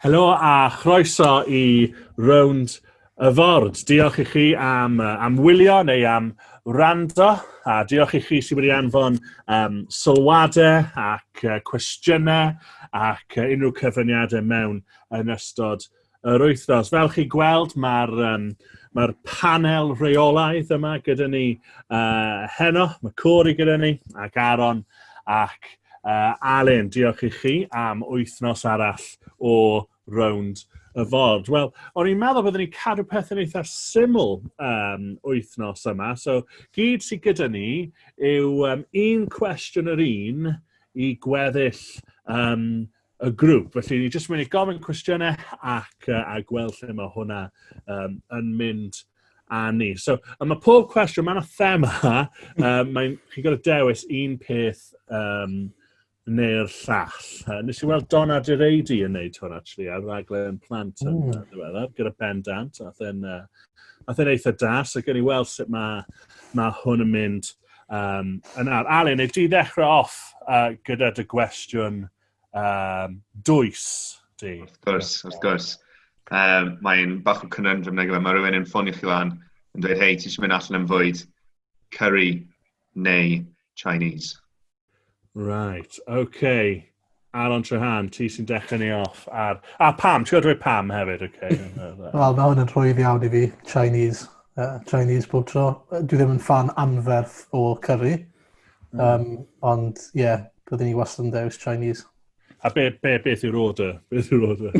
Helo a chroeso i rownd y ford. Diolch i chi am, am wylio neu am wrando, a diolch i chi sydd wedi anfon um, sylwadau ac uh, cwestiynau ac uh, unrhyw cyfyniadau mewn yn ystod yr wythnos. Fel chi gweld, mae'r um, mae panel rheolaidd yma gyda ni uh, heno, mae Cori gyda ni, ac Aaron, ac uh, Alun. Diolch i chi am wythnos arall o rownd y ford. Wel, o'n i'n meddwl byddwn ni'n cadw pethau'n eitha syml um, wythnos yma. So, gyd sydd gyda ni yw um, un cwestiwn yr un i gweddill um, y grŵp. Felly, ni jyst mynd i gofyn cwestiynau ac uh, a gweld lle mae hwnna um, yn mynd a ni. So, a mae pob cwestiwn, mae yna thema, um, mae'n, chi'n gorfod dewis un peth um, neu'r llall. Uh, nes i weld Don Adireidi yn neud hwn, actually, ar raglen plant yn mm. ddiweddar, gyda Ben Dant, a then, uh, a then eitha da, so gen i weld sut mae, mae hwn yn mynd Um, yn ar, Alun, neu di ddechrau off uh, gyda dy gwestiwn um, dwys di? Wrth gwrs, wrth gwrs. Um, Mae'n bach o cynnyndrym neu gyda, mae rhywun yn ffonio chi lan yn dweud, hei, ti eisiau mynd allan yn fwyd, curry neu Chinese? Right, okay. Aaron Trehan, ti sy'n dechrau ni off. Ar... A pam, ti'n gwybod pam hefyd, okay. Wel, mae hwn yn rhwydd iawn i fi, Chinese. Uh, Chinese bob tro. Dwi ddim yn fan anferth o curry. Um, mm. Ond, ie, yeah, byddwn ni wastad yn dewis Chinese. A be, be, beth yw'r order? Beth yw'r order?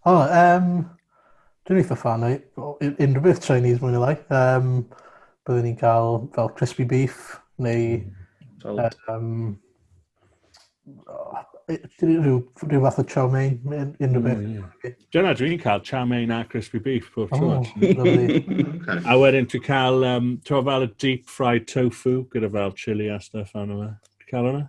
o, oh, um, Dwi'n eitha fan o unrhyw beth Chinese mwy neu lai. Um, byddwn ni'n cael fel crispy beef neu mm. um, oh, rhyw, rhyw fath o chow mein, unrhyw beth. Mm, yeah. Dyna dwi'n cael chow mein a crispy beef pob tro. Oh, a wedyn dwi'n cael, um, ti'n fel y deep fried tofu gyda fel chili a stuff arno fe. Ti'n cael hwnna?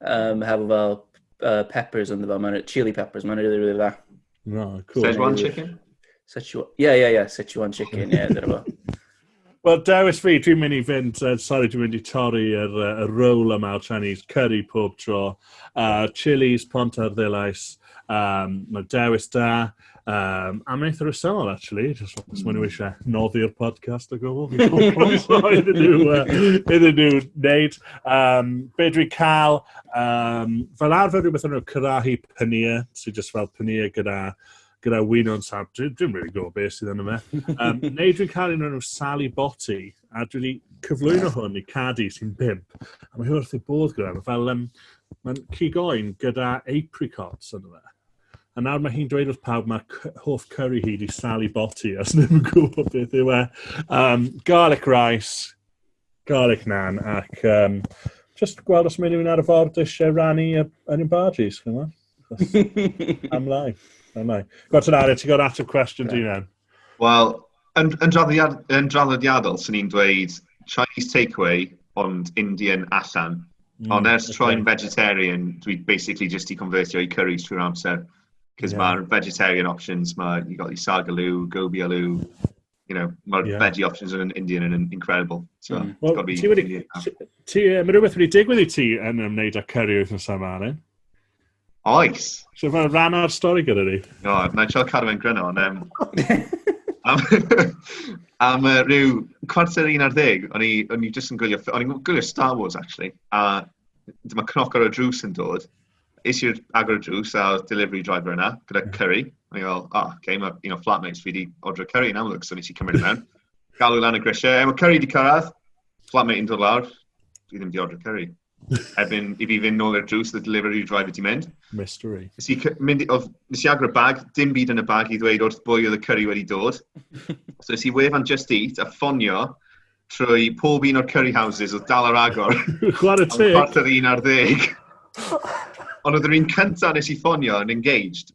Um, hefo fel uh, peppers ynddo fo, mae'n chili peppers, mae'n really, really dda. No, cool. Szechuan chicken? Szechuan, yeah, yeah, yeah, Szechuan chicken, yeah, dyna fo. Wel, dewis fi, dwi'n mynd i fynd, uh, sorry, dwi'n mynd i torri yr, uh, yr roll yma o Chinese curry pob tro. Uh, chilies, pont ar ddilais, um, mae dewis da. Um, am wneud yr ysol, actually, just os maen nhw hmm. eisiau noddi'r podcast o gwbl, fi'n gwybod iddyn nhw, iddyn nhw wneud. Um, be dwi'n cael, um, fel arfer rhywbeth o'n nhw cyrahu pynia, sy'n just fel pynia gyda gyda wyn o'n sab, dwi'n dwi really gwybod beth sydd yn yma. Um, neu dwi'n cael un o'n nhw Sally Botti, a dwi wedi cyflwyno hwn i Cadi sy'n bimp. A mae hyn wrth i bod gyda, fel, um, mae'n cigoen gyda apricots yn yma. A nawr mae hi'n dweud wrth pawb mae hoff curry hi di Sally Botti, os ddim yn gwybod beth yw e. Um, garlic rice, garlic nan, ac um, just gweld os mae rhywun ar y ford eisiau rannu yn y barges, chymod? Am lai, am lai. Gwrta'n arian, ti'n gwybod ateb cwestiwn di nawr? Wel, yn, yn, draddodiad, yn draddodiadol, swn i'n dweud Chinese takeaway, ond Indian allan. Mm, ond ers okay. troi'n vegetarian, dwi basically just i convertio i curries trwy'r amser. Cos yeah. mae'r vegetarian options, mae, you got your sagaloo, gobi aloo, you know, mae'r yeah. veggie options yn Indian yn incredible. So, mm. well, ti wedi, ti, mae rhywbeth wedi digwydd i ti yn ymwneud â curry wythnos yma, Alan? Oes. So mae'n rhan o'r stori gyda ni. No, na i trio cadw fe'n gryno, ond... Um, am, uh, rhyw cwarter un ar ddeg, o'n i, o'n i jyst yn gwylio, o'n i'n gwylio Star Wars, actually, a dyma cnoc ar y drws yn dod. Is i'r agor y drws a delivery driver yna, gyda hmm. curry. O'n i'n fel, oh, ah, okay, mae un o flatmates fi wedi ordro curry yn amlwg, so nes i cymryd mewn. Galw lan y grisiau, e, mae curry wedi cyrraedd. Flatmate yn dod lawr, dwi ddim wedi ordro curry. Erbyn i fi fynd nôl i'r drws, the delivery driver di mynd. Mystery. Nes i, mynd, oedd, nes i agor y bag, dim byd yn y bag i ddweud wrth bwy oedd y curry wedi dod. so nes i wefan Just Eat a ffonio trwy pob un o'r curry houses oedd dal ar agor. Chwarae teg. Ond chwarter un ar ddeg. Ond oedd yr un cyntaf nes i ffonio yn engaged.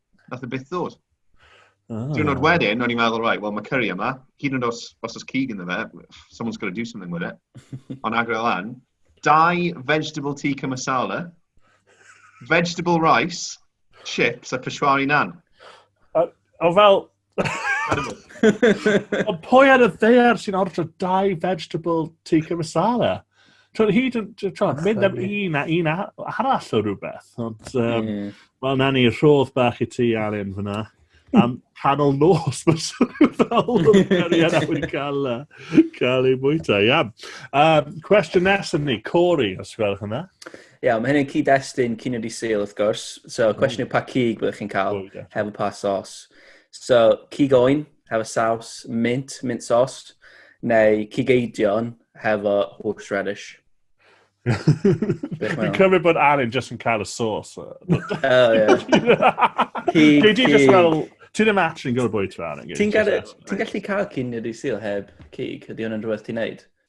Nath e byth ddod. Oh. Diwrnod ah. wedyn, o'n i'n meddwl, right, well, mae curry yma. Hyd yn os, os oes cig ynddo fe, someone's got to do something with it. Ond agro lan. Dau vegetable tea masala, vegetable rice, chips a peshwari nan. O, o fel, Ond pwy ar y ddear sy'n ordro dau vegetable tikka masala? Twyd, hyd yn twyd, mynd am un a un arall o rhywbeth. Ond, um, mm. wel, na ni, rhodd bach i ti, Alun, fyna. Am canol nos, mae'n swnio fel cariad a wedi cael, cael ei bwyta. Iawn. Um, cwestiwn nesaf ni, Corey, os gwelwch yna. Ie. Iawn, mae hyn yn cyd-destun cyn wedi syl, wrth gwrs. So, mm. cwestiwn yw pa cig byddwch chi'n cael oh, yeah. hefo pa sos. So, cig oen, hefo saws, mint, mint sos, neu cig eidion, hefo horseradish. Fi'n cymryd bod Alan jyst yn cael y sos. Oh, ie. Cig, cig. Ti ddim actually yn gwybod bwy ti fan. Ti'n gallu cael cyn wedi syl heb cig? Ydy hwnna'n rhywbeth ti'n neud?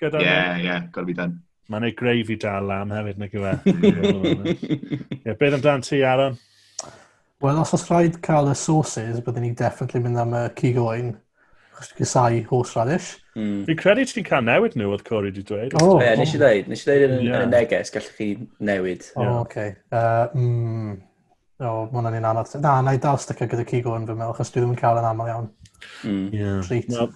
Gyda Ie, ie, gorau fi dan. Mae'n ei greu fi dal lan hefyd, nag yw e. Ie, beth amdano ti, Aaron? Wel, os oes rhaid cael y sauces, byddwn ni'n definitely mynd am y cig oen. Chos dwi'n casau horseradish. Mm. Fi'n credu ti'n cael newid nhw, oedd Corey wedi dweud. O, Ie, nes i ddeud, nes i ddeud yn y- Ie. yn y neges, gallwch chi newid. O, Ie. oce. Yy, mm, O, mae hwnna'n un anodd. Na, na i dal sticio gyda cig oen fy meddwl, chos dwi ddim yn cael yn aml iawn. Mm. Ie. Treat. Wel,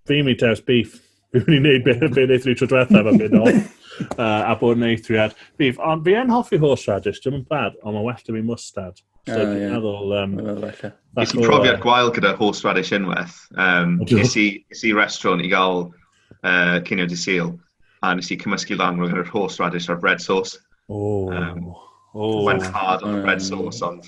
Fi mi ters beef. Fi wedi gwneud beth yn beth eithri tro diwetha fan byd ol. Uh, a bod yn eithriad beef. Ond fi yn hoffi horseradish, dim yn bad, ond mae'n well da fi mustard. So, uh, yeah. meddwl... Um, Nes i profiad gwael gyda horseradish unwaith. Um, nes i restaurant i gael uh, cynio di syl, a nes i cymysgu lan rhwng yr horseradish a'r bread sauce. Oh. Um, Oh. Mae'n hard on the bread sauce, ond...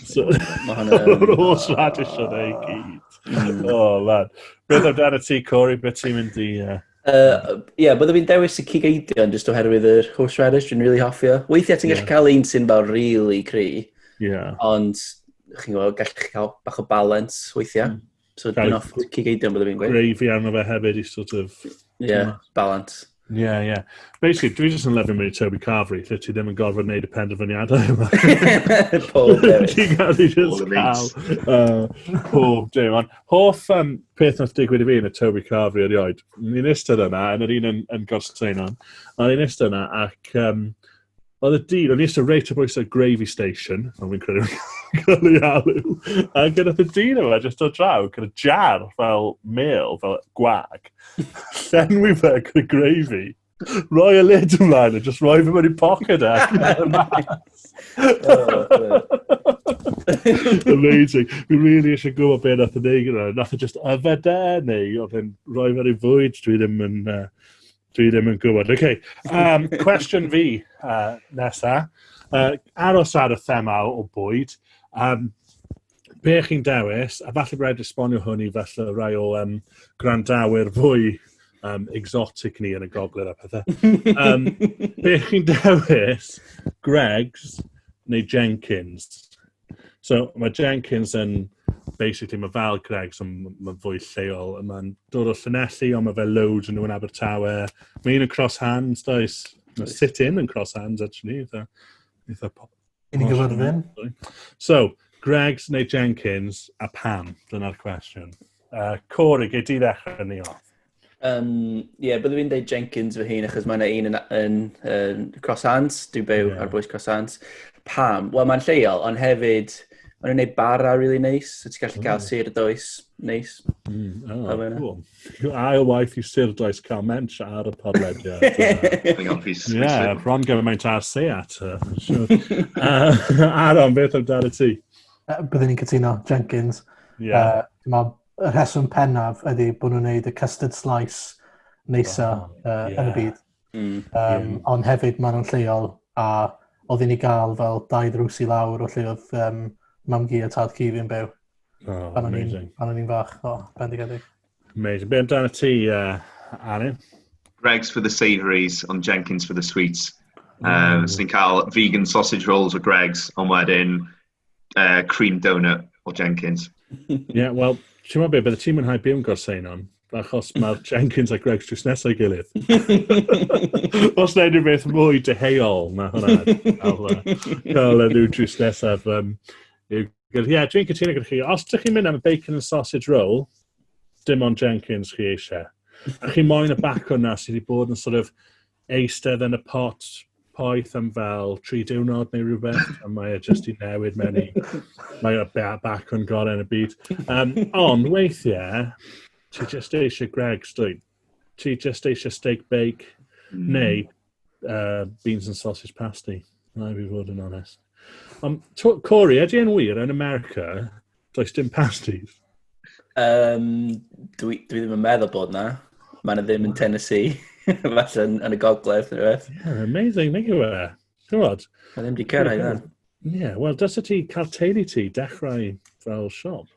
Mae'r holl radish o'n ei gyd. Mm. O, lad. Beth o'r dan y ti, Corey? Beth ti'n mynd i... Ie, uh, yeah, byddaf fi'n dewis y cig eidion jyst oherwydd yr horseradish, dwi'n really hoffi o. Weithiau ti'n gallu cael un sy'n fel really cry, yeah. ond chi'n gwybod, gallu chi cael bach o balance weithiau. Mm. So dyn off cigeidion bod fi'n gweud. Gravy arno fe hefyd i sort of... Yeah, balance. Yeah, yeah. Basically, dwi jyst yn lyfio mynd i Toby Carvery, lle ti ddim yn gorfod wneud y penderfyniadau yma. Pob dewis. Ti'n gallu just cael uh, pob dew. Ond hoff um, peth nath digwydd i fi yn y Toby Carvery erioed. Ni'n istedd yna, yn yr un yn, yn gorsain o'n, a ni'n istedd yna ac um, Oedd y dyn, o'n i eisiau reit o bwysau gravy station, ond fi'n credu fi'n cael ei alw. A gyda y dyn yma, jyst o draw, gyda jar fel mel, fel gwag. Llenwi fe gyda gravy. Roi y lid ymlaen a jyst roi fe mewn i pocket e. Amazing. Fi'n really eisiau gwybod beth nath yn ei gyda. Nath yn e just yfed e, neu oedd yn rhoi fe rhyw fwyd, dwi ddim yn... Uh, Dwi ddim yn gwybod. OK. Um, cwestiwn fi uh, nesa. Uh, aros ar y thema o bwyd. Um, be chi'n dewis, a falle bod rhaid esbonio hwn i falle rai o um, grandawyr fwy um, exotic ni yn y gogledd a pethau. Um, be chi'n dewis, Greg's neu Jenkins? So mae Jenkins yn, basically, mae fel Greg's, ond mae'n fwy lleol. Mae'n dod o Llanelli, ond mae fe loads yn nhw'n Abertawe. Mae un yn Cross Hands, does? Mae Sit In yn Cross Hands, actually. Eitha, eitha pop. Yn i gyfyrddin. So, Greg's neu Jenkins, a pam? Dyna'r cwestiwn. Uh, Corey, gei di ddechrau ni o. Um, yeah, byddwn i'n dweud Jenkins fy hun, achos mae yna un yn, yn, yn Crossants, dwi'n byw yeah. ar bwys Crossants. Pam? Wel, mae'n lleol, ond hefyd, mae'n gwneud bara really neis, so ti'n gallu mm. cael sir does neis. Mm, oh, cool. Ail waith i sir does cael mench ar y podlediad. yeah, bron gymaint ar seat. Aron, beth amdano ti? Byddwn i'n cytuno, Jenkins. Yeah. Uh, y rheswm pennaf ydy bod nhw'n gwneud y custard slice neisa oh, uh, yeah. yn y byd. Mm. Um, yeah. Ond hefyd maen nhw'n lleol a oedd i ni gael fel dau ddrws i lawr o lle oedd um, mam gi a tad ci fi'n byw. Oh, pan amazing. Pan o'n i'n fach, o, oh, bendigedig. Amazing. Be amdano ti, uh, Arin? Greg's for the savouries, ond Jenkins for the sweets. Um, mm. Swn i'n cael vegan sausage rolls o Greg's, ond wedyn uh, cream donut o Jenkins. Ie, yeah, wel, ti'n meddwl beth, bydde ti'n mwynhau byw yn gorsein o'n? achos mae'r Jenkins a Greg's just nesau gilydd. Os na unrhyw beth mwy deheuol na hwnna, cael y nhw just nesaf. Um, Ie, yeah, dwi'n cytuno gyda chi. Os ydych chi'n mynd am y bacon and sausage roll, dim ond Jenkins chi eisiau. A chi moyn y bacon na sydd wedi bod yn sort of eistedd yn y pot poeth am fel tri diwrnod neu rhywbeth, a mae e jyst i newid mewn i... Mae o ba- bac yn gorau yn y byd. Um, ond weithiau, ti jyst eisiau Greg's, dwi. Ti jyst eisiau steak bake, mm. neu uh, beans and sausage pasty. Na i fi fod yn onest. Um, Corey, ydy yn wir yn America, does dim pasties? Um, dwi, dwi ddim yn meddwl bod na. Mae'n ddim yn Tennessee. Falle yn, yn y gogledd, neu beth. Yeah, amazing, neu yw e. Gwybod? Mae ddim wedi cyrraedd yna. Ie, wel, dysa ti cael teulu ti dechrau fel siop.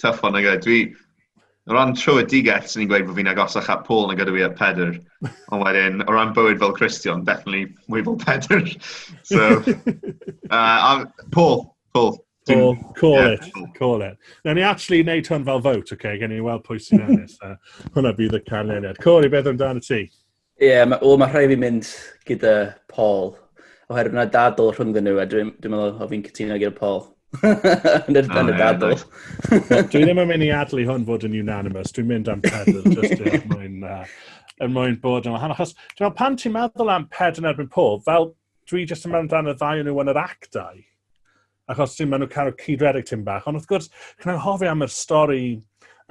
Tough one, nag Dwi, o ran trwydigell, sy'n ni'n gweud bod fi'n agosach at Paul nag ydw i at Pedr. Ond wedyn, o ran bywyd fel Christian, definitely mwy fel Pedr. so, uh, Paul, Paul. Paul, call yeah, it, Paul. call it. Na ni actually wneud hwn fel vote, okay? Gen i weld pwy sy'n ennill. uh, hwnna bydd y canlyniad. Corey, beth amdano ti? Ie, yeah, ma, o, mae rhai fi mynd gyda Paul, oherwydd yna dadl rhyngddyn nhw, a dwi'n dwi meddwl o fi'n cytuno gyda Paul. yn yr, oh, y dadl. Nice. dwi ddim yn mynd i adlu hwn fod yn unanimous, dwi'n mynd am pedal, just er mwyn, uh, er mwyn bod yn wahanol. Achos, dwi'n meddwl, pan ti'n meddwl am pedal yn erbyn Paul, fel, dwi jyst yn meddwl amdano ddau nhw yn yr actau. achos ti'n maen nhw'n cael cyd redeg tyn bach. Ond wrth gwrs, chi'n anghofio am yr stori,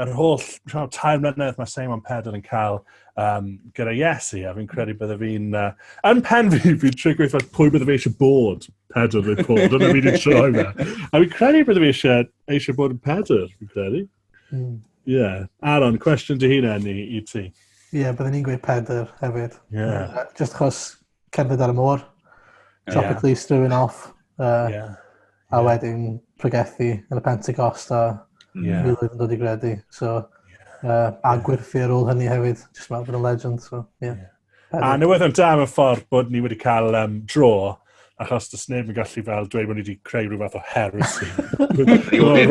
yr holl rhan, tair mlynedd mae Simon Pedr yn cael um, gyda Iesu, a fi'n credu bydde fi'n... Uh, yn pen fi, fi'n trio gweithio pwy bydde fi eisiau bod, Pedr neu Paul, dyna fi wedi troi fe. A fi'n credu bydde fi eisiau, eisiau bod yn Pedr, fi'n credu. Hmm. Ie. Mm. Yeah. Aaron, cwestiwn dy hun enni i ti. Ie, yeah, byddwn ni'n gweud Pedr hefyd. Ie. Yeah. Just chos Cerdded ar y môr. Tropically strewn off. Uh, yeah. A wedyn pregethu yn y Pentecost a yeah. miloedd yn dod i gredu. So, uh, a gwerthu ar ôl hynny hefyd. Just meddwl bod yn legend. So, yeah. yeah. A newyddion yn dam y ffordd bod ni wedi cael um, dro, achos dys neb yn gallu fel dweud bod ni wedi creu rhyw fath o heresy.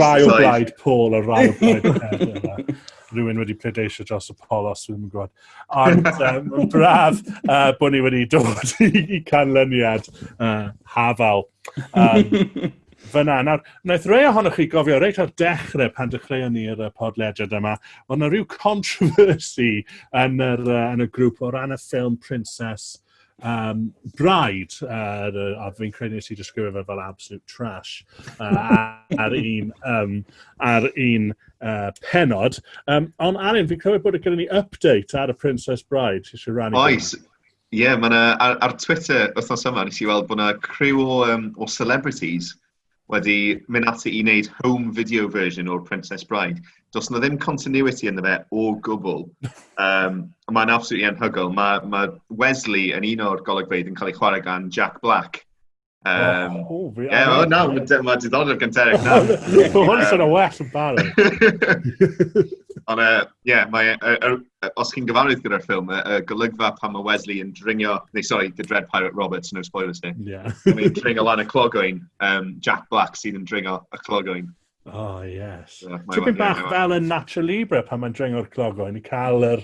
rai o blaid Paul a rai o blaid Rwy'n wedi pledeisio dros y polos, rwy'n gwybod. Ond um, mae'n braf uh, bod ni wedi dod i, i canlyniad uh, hafal. Um, fyna. Nawr, wnaeth rei ohonoch chi gofio reit o'r dechrau pan dechreuon ni yr podlediad yma, ond yna rhyw controversy yn, yr, uh, yn y grŵp o ran y ffilm Princess um, bride, uh, a fi'n credu nes i disgrifio fe fel absolute trash, uh, ar un, um, ar un uh, penod. Um, ond Arin, fi'n credu bod y gyda ni update ar y Princess Bride, ti eisiau rannu? Oes, ie, yeah, ar, ar Twitter wythnos yma, nes i weld bod yna criw o, um, o celebrities wedi mynd ati i wneud home video version o'r Princess Bride. Does yna ddim continuity yn fe o gwbl. Um, Mae'n absolutely anhygoel. Mae ma Wesley yn un o'r golygfeydd yn cael ei chwarae gan Jack Black. Um, oh, oh, fi, yeah, oh, na, mae diddordeb gan Derek na. Mae hwn sy'n o well yn barod. Ond, ie, yeah, mae os chi'n gyfarwydd gyda'r ffilm, y, y golygfa pan mae Wesley yn dringio, neu sorry, the Dread Pirate Roberts, no spoilers ni. Yeah. yn dringio lan y clogoen, um, Jack Black sydd yn dringio y clogoen. Oh, yes. So, Tipyn bach yeah, fel yn Natural Libre pan mae'n dringio'r clogoen i cael yr,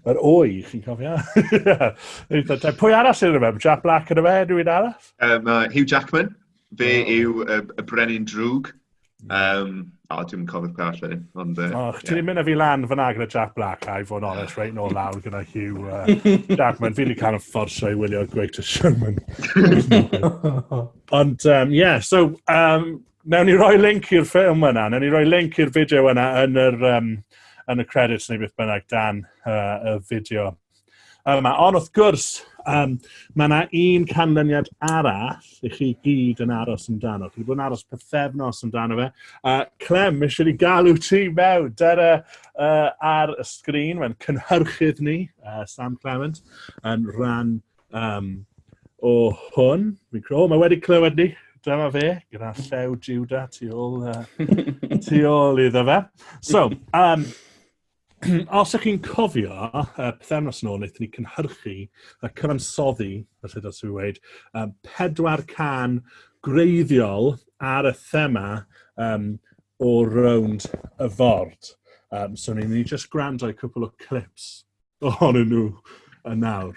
yr oi, chi'n cofio? Pwy arall sy'n rhywbeth? Jack Black yn y fe, rhywun arall? Um, uh, Hugh Jackman. Fe yw y, y brenin drwg. Um, o, oh, dwi'n cofio'r peth allan. Ond, uh, oh, chdi yeah. mynd â fi lan fyna gyda Jack Black, I fod yn honest, reit nôl lawr gyda Hugh uh, Jackman. Fi'n cael yn fforsio i wylio'r Greatest Showman. Ond, ie, um, yeah, so, um, newn ni roi link i'r ffilm yna, newn ni roi link i'r fideo yna yn, yr, um, yn y credits neu beth bynnag dan uh, y fideo. yma. Ond wrth gwrs, um, mae yna un canlyniad arall i chi gyd yn aros amdano. Chi wedi bod yn aros pethefnos amdano fe. Uh, Clem, eisiau ni galw ti mewn. Dyna uh, ar y sgrin, mae'n cynhyrchydd ni, uh, Sam Clement, yn rhan um, o hwn. Fi'n credu, oh, mae wedi clywed ni. Dyma fe, gyda llew Juda tu ôl, uh, tu ôl iddo fe. So, um, Os ych chi'n cofio, uh, pethefnos nôl, wnaethon ni cynhyrchu a cyfansoddi, felly dros fi wedi, um, pedwar can greiddiol ar y thema um, o rownd y ford. Um, so ni'n ni just gwrando i cwpl o clips ohonyn nhw yn nawr.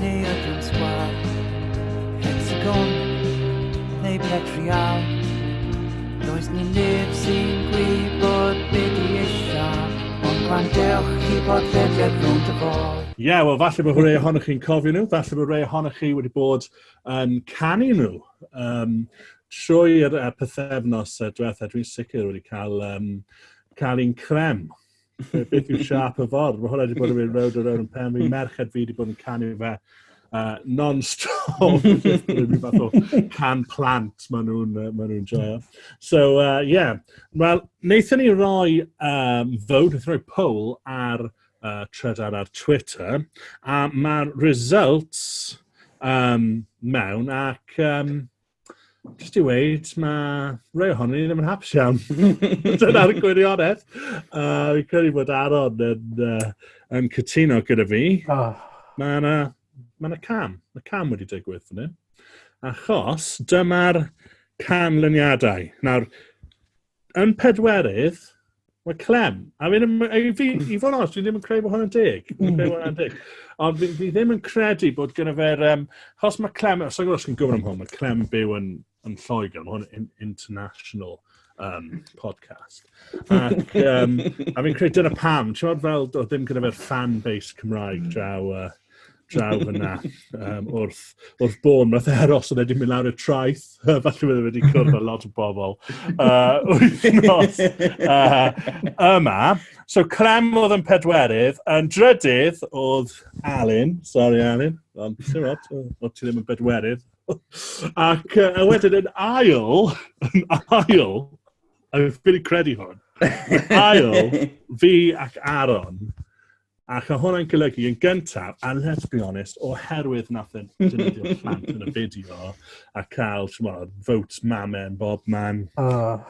neu ydym sgwar Hexagon neu bed real Does ni neb sy'n gwybod be di eisiau Ond gwan dewch i bod ddedfed rhwng dy bol Ie, yeah, wel, falle bod rhai ohonych chi'n cofio nhw, falle bod rhai ohonych chi wedi bod yn canu nhw um, trwy'r uh, pethefnos uh, diwethaf. Dwi'n sicr wedi cael, um, cael un crem. beth yw siap y ffordd. Mae hwnna wedi bod yn mynd rownd a rownd yn pen. Mae merched fi wedi bod yn canu fe uh, non-stop. Rwy'n fath o can plant maen nhw'n uh, ma nhw joio. So, uh, yeah. Wel, wnaethon ni roi um, fod, wnaethon ni roi poll ar uh, trydar ar Twitter, a mae'r results um, mewn ac um, jyst i weid, mae rhai ohonyn ni ddim yn hapus iawn. Dyna'r gwirionedd. Uh, fi'n credu bod Aron yn, uh, yn cytuno gyda fi. Oh. Mae yna ma na cam. Mae cam wedi digwydd fan hyn. Achos dyma'r canlyniadau. Nawr, Yn pedwerydd, mae Clem. I mean, i, fi, hmm. i fod os, dwi ddim yn credu bod hwnna'n deg. Hmm. Ond fi, fi ddim yn credu bod gyda fe'r... Um, os mae Clem... Os ydych chi'n gwybod am hwn, mae Clem byw yn, yn Lloegr. Mae hwn yn international um, podcast. Ac um, a fi'n credu dyna pam. Ti'n meddwl fel, o ddim gyda fe'r fan base Cymraeg hmm. draw... Uh, draw fyna um, wrth, wrth bôn. Nath e aros oedd wedi mynd lawr y traeth. Falle wedi wedi cwrdd â lot o bobl. Uh, wythnos uh, yma. So Clem oedd yn pedwerydd. Yn drydydd oedd Alun. Sorry Alun. Ond ti'n rot, o ti ddim yn bedwerydd. Ac uh, wedyn yn ail, yn ail, a fi'n credu hwn, ail, fi ac Aaron, Ac mae hwnna'n golygu yn gyntaf, a let's be honest, oherwydd nath e dynydio'r plant yn y fideo a cael, chymod, votes mamen, bob man. Oh.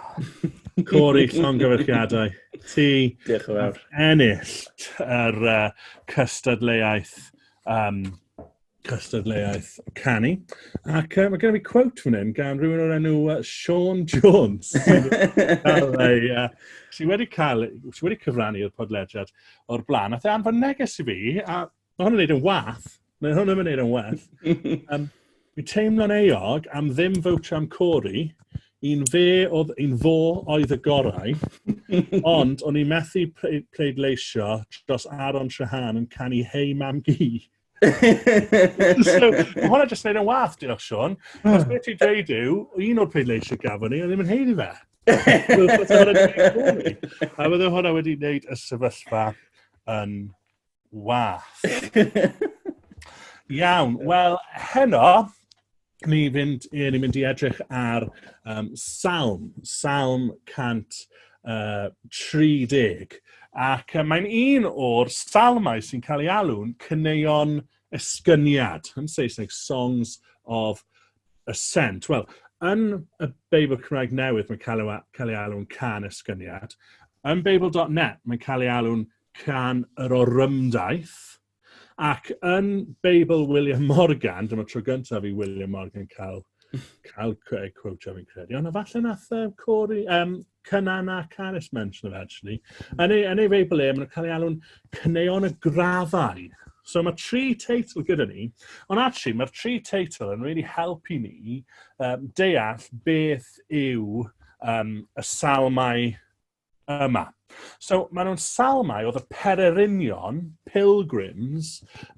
Cori, llongyfarchiadau. Ti Diolch yn fawr. ennill yr uh, cystadleuaeth um, cystadleuaeth canu. Ac uh, mae gen i fi quote fan hyn gan rhywun o'r enw uh, Sean Jones, sydd uh, sy wedi, cael, sy wedi cyfrannu i'r podlediad o'r blaen. Ath e anfon neges i fi, a mae hwn yn neud yn wath. Mae hwn yn neud yn wath. um, Fi'n teimlo'n eog am ddim fawtio am Cori, un fe oedd, un fo oedd y gorau, ond o'n i'n methu pleidleisio dros Aaron Trahan yn canu Hei Mam Gi. so, mae hwnna jyst neud yn wath, diolch Sean. Os beth ti'n dweud yw, un o'r pleidleisiau gafon ni, oedd ddim yn heiddi fe. A fydde hwnna wedi wneud y sefyllfa yn wath. Iawn, wel, heno, ni fynd, ie, ni mynd i edrych ar um, Salm, Salm 130. Ac uh, mae'n un o'r salmau sy'n cael ei alw'n cyneuon esgyniad, yn Saesneg, Songs of Ascent. Wel, yn y Beibl Cymraeg newydd, mae'n cael ei, cael ei alw'n can esgyniad. Yn Beibl.net, mae'n cael ei alw'n can yr orymdaith. Ac yn Beibl William Morgan, dyma tro gyntaf i William Morgan cael, cael quotio fi'n credu, ond falle nath uh, Corey, um, Cynan a Caris mention of actually. Yn ei, yn ei Feibl e, maen cael ei alw'n cyneuon y graddau. So mae tri teitl gyda ni, ond actually mae'r tri teitl yn really helpu ni um, deall beth yw um, y salmau yma. So, maen nhw'n salmau oedd y pererinion, pilgrims,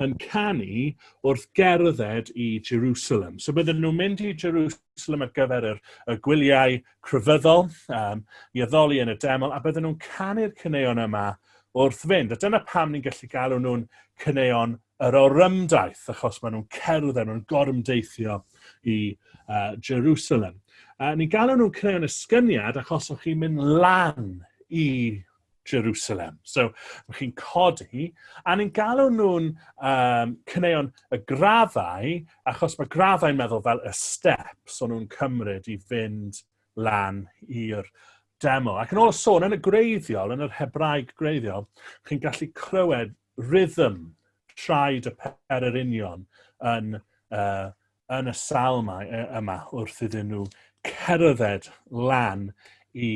yn canu wrth gerdded i Jerusalem. So, bydden nhw'n mynd i Jerusalem ar gyfer yr, y gwyliau crefyddol, um, i addoli yn y deml, a bydden nhw'n canu'r cyneuon yma wrth fynd. A dyna pam ni'n gallu galw nhw'n cyneuon Yr orymdaith, achos maen nhw'n cerdd a nhw'n gorymdeithio i uh, Jerusalem. Uh, ni'n galw nhw'n creu yn ysgyniad achos o'ch chi'n mynd lan i Jerusalem. So, mae chi'n codi, a ni'n galw nhw'n um, cyneuon y graddau, achos mae graddau'n meddwl fel y steps o'n nhw'n cymryd i fynd lan i'r demo. Ac yn ôl y sôn, yn y greiddiol, yn yr Hebraeg greiddiol, chi'n gallu clywed rhythm traed y pererinion yn, uh, yn y sal yma, yma wrth iddyn nhw cerdded lan i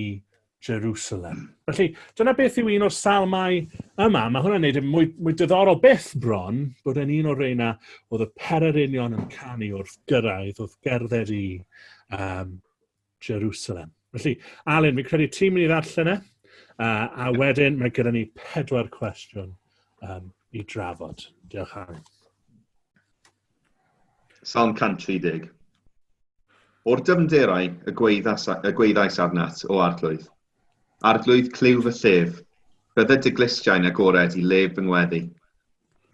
Jerusalem. Felly, dyna beth yw un o'r salmau yma. Mae hwnna'n gwneud yn mwy, mwy diddorol beth bron bod yn un o'r reina oedd y pererinion yn canu wrth gyrraedd, wrth gerdded i um, Jerusalem. Felly, Alun, fi'n credu ti'n mynd i ddarllen e, uh, a wedyn mae gyda ni pedwar cwestiwn um, i drafod. Diolch, Alun. Salm 130. O'r dyfnderau y gweithas, y gweithais arnat, o arglwydd. Arglwydd clyw fy llef, bydde dy glystiau'n agored i lef fy ngweddi.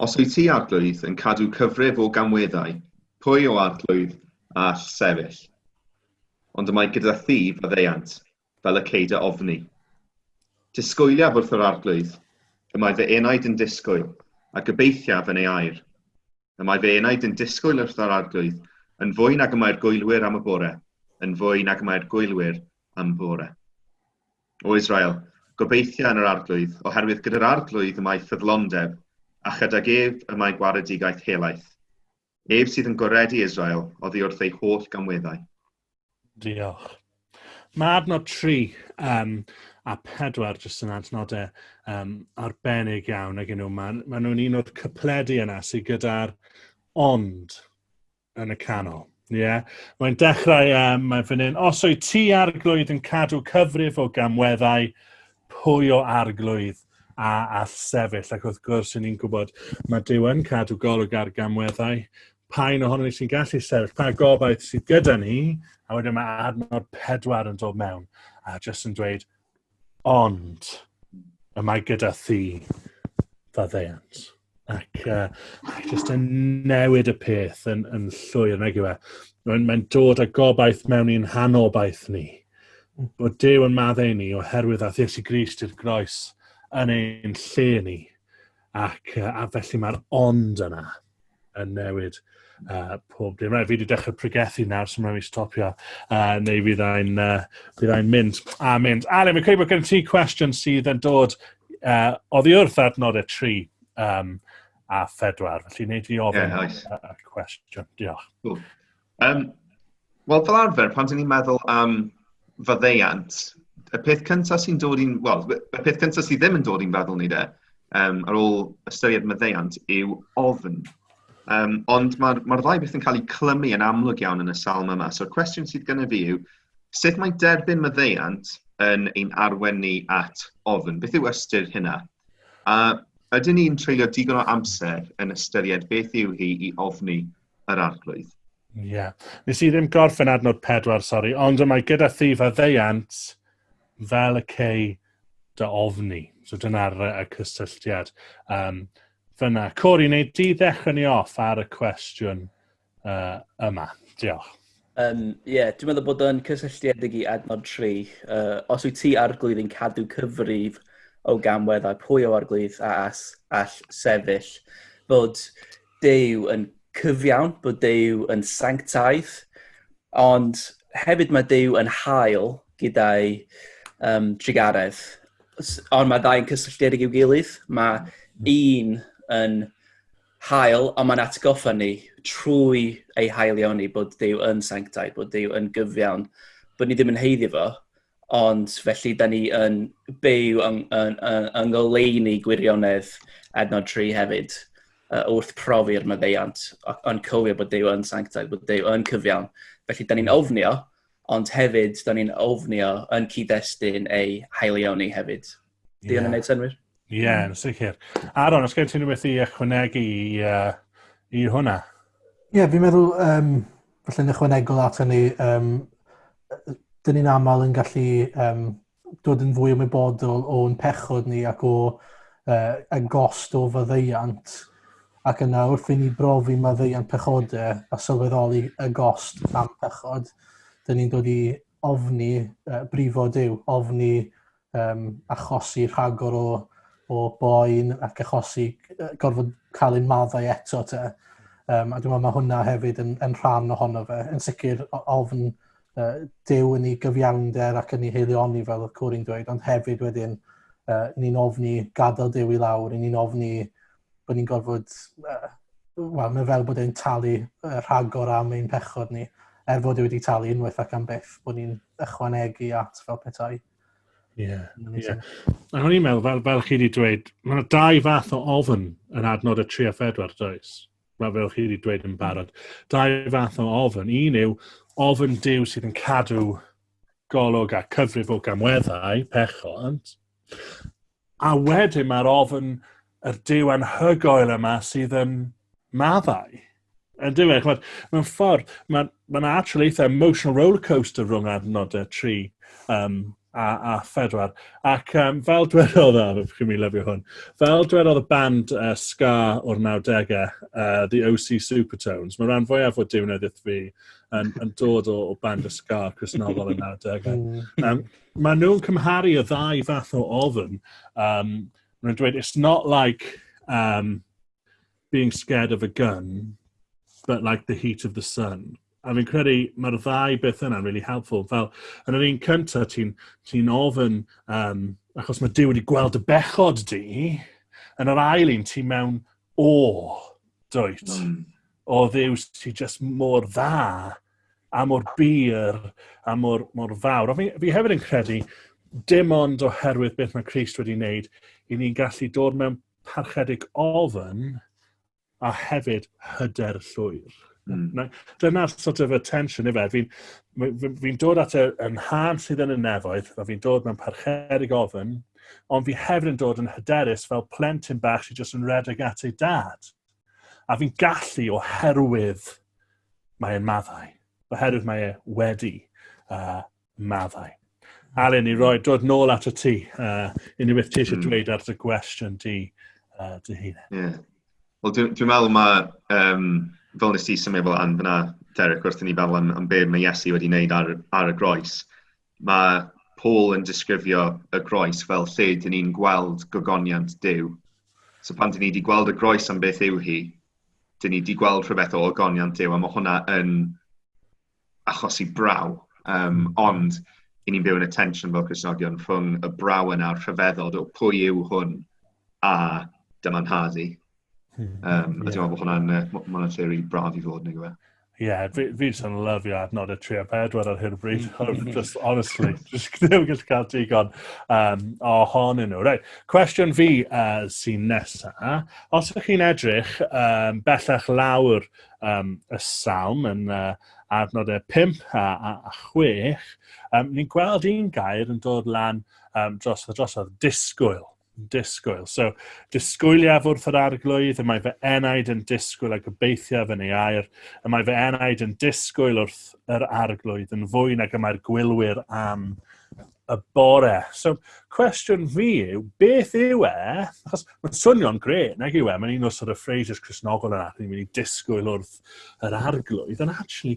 Os wyt ti, arglwydd, yn cadw cyfrif o gamweddau, pwy o arglwydd all sefyll? Ond y mae gyda thi faddeuant, fel y ceid a ofni. Disgwyliaf wrth yr arglwydd, y mae fy enaid yn disgwyl, a gobeithiaf yn ei air. Y mae fy enaid yn disgwyl wrth yr arglwydd, yn fwy nag y mae'r gwylwyr am y bore, yn fwy nag y mae'r gwylwyr am fore. O Israel, gobeithia yn yr arglwydd, oherwydd gyda'r arglwydd y mae ffyddlondeb, a chydag ef y mae gwaredigaeth helaeth. Ef sydd yn goredu Israel oddi wrth ei holl gamweddau. Diolch. Mae adnod 3 um, a 4 jyst yn adnodau um, arbennig iawn ag nhw. Mae, mae nhw'n un o'r cypledu yna sydd gyda'r ond yn y canol. Ie. Yeah. Mae'n dechrau, um, mae fan hyn, os o'i ti arglwydd yn cadw cyfrif o gamweddau, pwy o arglwydd a all sefyll, ac wrth gwrs, yn ni'n gwybod, mae Dyw yn cadw golwg ar gamweddau, pa un ohono ni sy'n gallu sefyll, pa gobaith sydd gyda ni, a wedyn mae adnod pedwar yn dod mewn, a jyst yn dweud, ond, y mae gyda thi, fa ddeiant. ac uh, just yn newid y peth yn, yn llwyr, nag yw e. Mae'n mae dod â gobaith mewn i'n hanobaith ni. Bod Dyw yn maddau ni oherwydd a Thiesu Grist i'r groes yn ein lle ni. Ac uh, a felly mae'r ond yna yn newid uh, pob dim. Right, fi wedi dechrau pregethu nawr, so mae'n mi stopio, uh, neu fydd ein, uh, fydd ein mynd a mynd. Ale, mae'n credu bod gen ti cwestiwn sydd yn dod uh, oddi wrth adnod y tri um, a phedwar. Felly, wneud i ofyn yeah, nice. y cwestiwn. Diolch. Cool. Um, Wel, fel arfer, pan dyn ni'n meddwl am faddeiant, y peth cyntaf sy'n dod i'n... Wel, y peth cyntaf sydd ddim yn dod i'n feddwl ni de, um, ar ôl ystyried maddeiant, yw ofn. Um, ond mae'r ma, ddau beth yn cael eu clymu yn amlwg iawn yn y salm yma. So'r cwestiwn sydd gennym fi yw, sut mae derbyn maddeiant yn ein arwen ni at ofn? Beth yw ystyr hynna? A ydyn ni'n treulio digon o amser yn ystyried beth yw hi i ofni yr arglwydd. Ie. Yeah. Nes i ddim gorffen adnod pedwar, sori, ond mae gyda thif a ddeiant fel y cei dy ofni. So dyna'r y cysylltiad. Um, fyna. Cori, neu di ddechrau ni off ar y cwestiwn uh, yma. Diolch. Ie, um, yeah, dwi'n meddwl bod o'n cysylltiedig i adnod 3. Uh, os wyt ti arglwydd yn cadw cyfrif o gamwedd a pwy o arglwydd a as all sefyll, bod Duw yn cyfiawn, bod Duw yn sanctaidd, ond hefyd mae Duw yn hael gyda'i um, drugaredd. Ond mae ddau'n cysylltiedig i'w gilydd. Mae un yn hael, ond mae'n atgoffa ni trwy ei haelioni bod Duw yn sanctaidd, bod Duw yn gyfiawn, bod ni ddim yn heiddi fo, Ond felly, da ni yn byw yng, yng, yng, yng ngoleuni gwirionedd adnod tri hefyd, uh, wrth profi'r maddeuant, yn cofio bod Dyw yn sanctaidd, bod Dyw yn cyfiawn. Felly, da ni'n ofnio, ond hefyd, da ni'n ofnio yn cyd-destun ei haelioni hefyd. Di yeah. yn gwneud synwyr. Ie, yeah, yn sicr. Aron, os gen ti'n rhywbeth i ychwanegu i, uh, i hwnna? Ie, yeah, fi'n meddwl, um, falle yn ychwanegol at hynny, um, dyn ni'n aml yn gallu um, dod yn fwy ymwybodol o'n pechod ni ac o uh, y gost o faddeiant. Ac yna wrth i ni brofi maddeiant pechodau a sylweddoli y gost am pechod, dyn ni'n dod i ofni uh, brifo Dyw, ofni um, achosi rhagor o, o boen ac achosi gorfod cael ein maddau eto te. Um, a dwi'n meddwl mae hwnna hefyd yn, yn rhan ohono fe. Yn sicr ofn uh, dew yn ei gyfiawnder ac yn ei heilioni fel y cwr i'n dweud, ond hefyd wedyn uh, ni'n ofni gadael dew i lawr, ni'n ofni bod ni'n gorfod, uh, wel, mae fel bod e'n talu uh, rhagor am ein pechod ni, er fod e wedi talu unwaith ac am byth, bod ni'n ychwanegu at fel petai. Ie, yeah, ie. Yeah. A o'n i'n meddwl, fel, fel chi wedi dweud, mae yna dau fath o ofn yn adnod y 3 a 4, does? Mae fel chi wedi dweud yn barod. Dau fath o ofn. Un yw ofn dew sydd yn cadw golwg a cyfrif o gamweddau pechont. A wedyn mae'r ofn yr Duw anhygoel yma sydd yn maddau. Yn dyw e, chwbod, mewn ffordd, mae'n ma yna actual eitha emotional rollercoaster rhwng adnodau 3 um, a, a 4. Ac um, fel dwedodd, a chi'n mi lyfio hwn, fel dwedodd y band uh, Ska o'r 90au, uh, The OC Supertones, mae rhan fwyaf o diwneddith fi yn, yn dod o, o band y Ska, Chris Nofel y 90au. Um, Maen nhw'n cymharu y ddau fath o ofn. Um, maen nhw'n dweud, it's not like um, being scared of a gun, but like the heat of the sun. A fi'n credu mae'r ddau beth yna'n really helpful. Fel, yn yr un cyntaf, ti'n ti ofyn, um, achos mae Dyw wedi gweld y bechod di, yn yr ail un, ti mewn o, dwyt. Mm. O ddews, ti just mor dda a mor bur a mor, mor fawr. Ond fi, fi hefyd yn credu, dim ond oherwydd beth mae Christ wedi wneud, i ni'n gallu dod mewn parchedig ofyn a hefyd hyder llwyr. Mm. Dyna'r sort of attention i fe. Fi'n fi, fi dod at y, yn hân sydd yn y nefoedd, a fi'n dod mewn parchedig ofyn, ond fi hefyd yn dod yn hyderus fel plentyn bach sy'n jyst yn redeg at ei dad. A fi'n gallu oherwydd mae e'n maddau. Oherwydd mae e wedi uh, maddau. Alun, i roi dod nôl at y ti, uh, unrhyw beth ti eisiau hmm. dweud ar dy gwestiwn di, uh, dy hun. Yeah. Wel, dwi'n dwi meddwl mae, um, fel nes ti symud fel an fyna, Derek, wrth i ni feddwl am, am be mae Iesu wedi wneud ar, ar y groes, Mae Paul yn disgrifio y groes fel lle dyn ni'n gweld gogoniant Duw. So pan dyn ni wedi gweld y groes am beth yw hi, dyn ni wedi gweld rhywbeth o ogoniant Duw, a mae hwnna yn achosi braw. Um, ond, i ni'n byw yn y tensiwn fel Cresnogion rhwng y braw yna a'r rhyfeddod o pwy yw hwn a dyma'n nhad i. Hmm. Um, yeah. A dwi'n meddwl bod hwnna'n uh, ma hwnna lle rili braf i fod, neu gyfe. Ie, yeah, fi, fi jyst yn lyfio adnod y 3 a 4 ar hyn o bryd. Hmm. just, honestly, just ddim gallu cael digon um, ohonyn nhw. Right, cwestiwn fi uh, sy'n nesa. Os ydych chi'n edrych um, bellach lawr um, y salm yn uh, adnod y 5 a, a, a 6, um, ni'n gweld un gair yn dod lan um, dros, dros o'r disgwyl. disgwyl. So, disgwyliaf wrth yr arglwydd, y mae fy enaid yn disgwyl a gobeithiaf yn ei air, y mae fy enaid yn disgwyl wrth yr arglwydd yn fwy nag y mae'r gwylwyr am y bore. So, cwestiwn fi yw, beth yw e? Achos mae'n swnio'n gret, nag yw e? Mae'n un o'r sort of phrases Cresnogol yna, ni'n mynd i disgwyl wrth yr arglwydd, ond actually,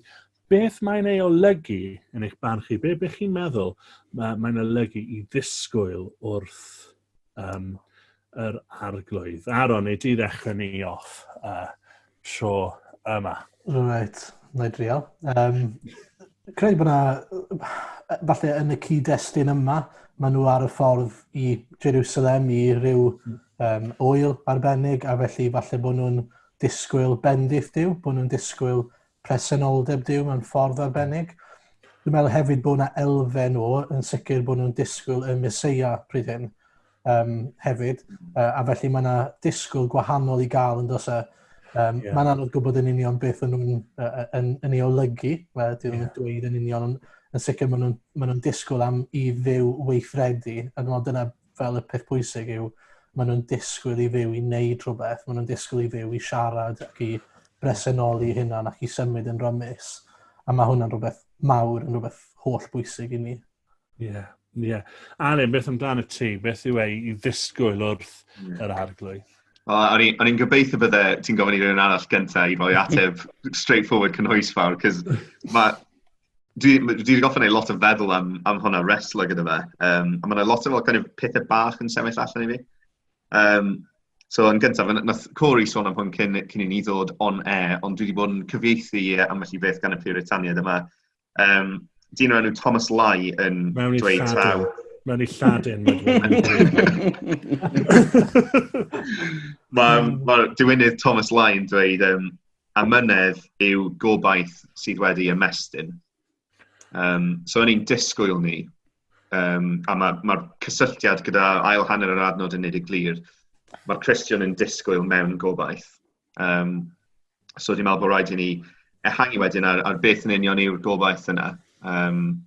Beth mae'n ei olygu, yn eich barn chi? Be, be chi'n meddwl mae, mae'n olygu i ddisgwyl wrth um, yr arglwydd? Aaron, neu di ddechrau ni off uh, tro yma. Right, na i drial. Um, credu bod yna, falle yn y cyd-destun yma, maen nhw ar y ffordd i Jerusalem i ryw um, oel arbennig, a felly falle bod nhw'n disgwyl bendith diw, bod nhw'n disgwyl presenoldeb Duw mewn ffordd arbennig. Dwi'n meddwl hefyd bod yna elfen o, yn sicr bod nhw'n disgwyl y Mesoea pryd hyn um, hefyd, uh, a felly mae yna disgwyl gwahanol i gael yn dos e. Um, yeah. Mae'n anodd gwybod yn union beth yn nhw'n uh, yn, yn ei olygu, mae dyn nhw'n yeah. dweud yn union, yn sicr maen nhw'n ma nhw disgwyl am i ddew weithredu, a dwi'n meddwl dyna fel y peth pwysig yw, maen nhw'n disgwyl i fyw i wneud rhywbeth, maen nhw'n disgwyl i fyw i siarad ac i bresenoli hynna ac i symud yn rymus. A mae hwnna'n rhywbeth mawr, yn rhywbeth holl bwysig i ni. Ie, yeah, ie. Yeah. Alun, beth amdano ti? Beth yw ei i ddisgwyl wrth yeah. yr arglwydd? Wel, o'n i'n gobeithio bydde ti'n gofyn i rhywun arall gyntaf i roi ateb straightforward cynhwysfawr, cos mae Dwi dwi 'di gorfod wneud lot o feddwl am am hwnna, reslo gyda fe. Yym, a mae 'na lot o fel kind of pethe bach yn sefyll allan i fi. Yym, so yn gyntaf, n- wnaeth Cory sôn am hwn cyn cyn i ni ddod on air, ond dwi 'di bod yn cyfieithu e ambell i beth gan y Puritaniaid yma. Yym, dyn o'r enw Thomas Lai yn Mewn i dweud taw... Lladin. Mewn i Lladin. Mae ma' diwinydd Thomas Lai yn dweud, um, amynedd yw gobaith sydd wedi ymestyn. Um, so, o'n i'n disgwyl ni, um, a mae'r ma, cysylltiad gyda ail hanner yr adnod yn nid y glir, mae'r Christian yn disgwyl mewn gobaith. Um, so, dwi'n meddwl bod rhaid i ni ehangu wedyn ar, ar beth yn union yw'r gobaith yna. Um,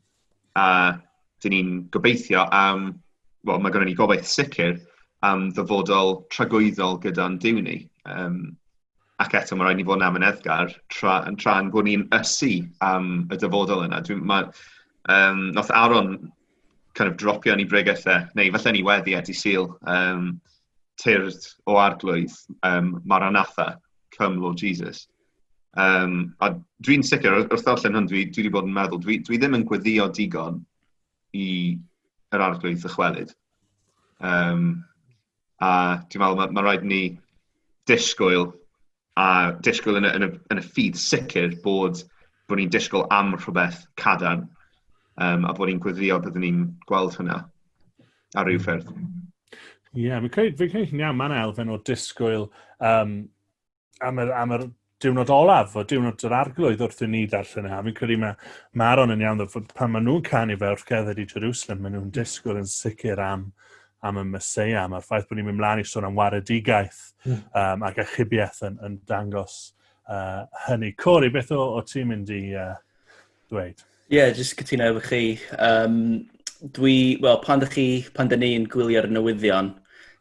a dyn ni'n gobeithio am, wel mae gennym ni gobaith sicr am ddyfodol tragwyddol gyda'n Duw ni. Um, ac eto mae rhaid ni fod yn amyneddgar tra, tra yn bod ni'n ysu am y dyfodol yna. Dwi'n, mae, um, noth Aaron kind of dropio ni bregethau, neu falle ni wedi edu syl, um, tyrd o arglwydd um, Maranatha, come Lord Jesus. Yym, a dwi'n sicr, wrth wrth ddarllen hwn, dwi dwi 'di bod yn meddwl, dwi dwi ddim yn gweddïo digon i yr Arglwydd ddychwelyd. Yym, a dwi'n meddwl ma' ma' raid ni disgwyl a disgwyl yn y yn y yn y ffydd sicr bod bod ni'n disgwyl am rhywbeth cadarn, yym, a bod ni'n gweddïo byddwn ni'n gweld hwnna ar ryw ffyrdd. Ie, fi'n credu fi'n credu chi'n iawn, ma' 'na elfen o disgwyl, yym, am yr, am yr diwrnod olaf, o diwrnod yr arglwydd wrth i ni ddarllen haf. Fi'n credu mae Maron yn iawn, pan maen nhw'n canu fe wrth gerdded i Jerusalem, maen nhw'n disgwyl yn sicr am, am y Mesoea. Mae'r ffaith bod ni'n mynd mlaen i sôn am waredigaeth mm. um, ac achubiaeth yn, yn dangos uh, hynny. Cori, beth o, o ti'n mynd i... Uh, ddweud. Ie, yeah, jyst cytuno efo chi. Um, dwi, wel, pan ydych chi, pan dyn ni'n gwylio'r newyddion,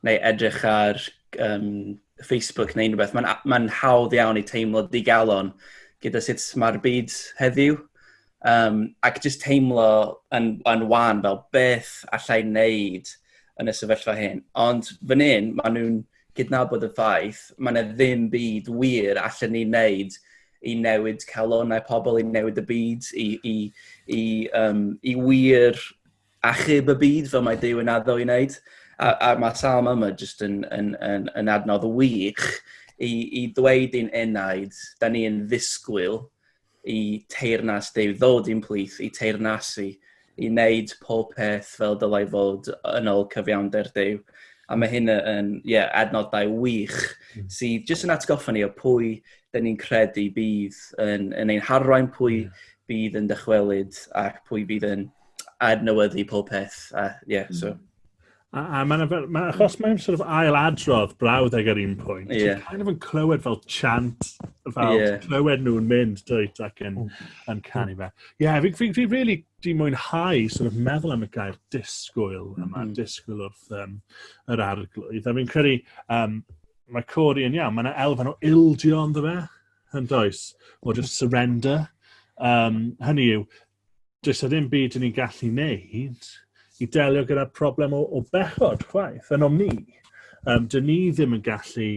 neu edrych ar um, Facebook neu unrhyw beth, mae'n ma hawdd iawn i teimlo digalon gyda sut mae'r byd heddiw. Um, ac jyst teimlo yn, yn wan fel beth allai wneud yn y sefyllfa hyn. Ond fan hyn, maen nhw'n cydnabod y ffaith, mae yna ddim byd wir allan ni wneud i newid calonau pobl, i newid y byd, i, i, i, um, i wir achub y byd fel mae Dyw yn addo i wneud. A, a mae salm yma jyst yn, yn, yn, yn adnodd wych i, i ddweud i'n enaid, da ni yn ddisgwyl i teirnas Dyw ddod i'n plith, i teirnasu i wneud pob peth fel dylai fod yn ôl cyfiawnder Duw. A mae hyn yn yeah, adnodau wych hmm. sydd jyst yn atgoffa ni o pwy dyn ni'n credu bydd yn, yn ein harwain, pwy yeah. Hmm. bydd yn dychwelyd ac pwy bydd yn adnewyddu pob peth. A, yeah, so. Hmm. A, a mae'n fel, ma, achos mae'n sort of ail adrodd brawd ag ar un pwynt, yeah. ti'n kind of yn clywed fel chant, fel yeah. clywed nhw'n mynd dwyt ac yn, mm. yn canu fe. Ie, yeah, fi, fi, fi really di mwynhau sort of meddwl am y gair disgwyl yma, mm -hmm. disgwyl wrth um, yr arglwydd. A fi'n credu, um, mae Cori yn iawn, mae yna elfen o ildio ond fe, yn does, o just surrender. Um, hynny yw, does na ddim byd ni'n gallu wneud i delio gyda'r problem o, o bechod chwaith, yn o'm ni. Um, dyn ni ddim yn gallu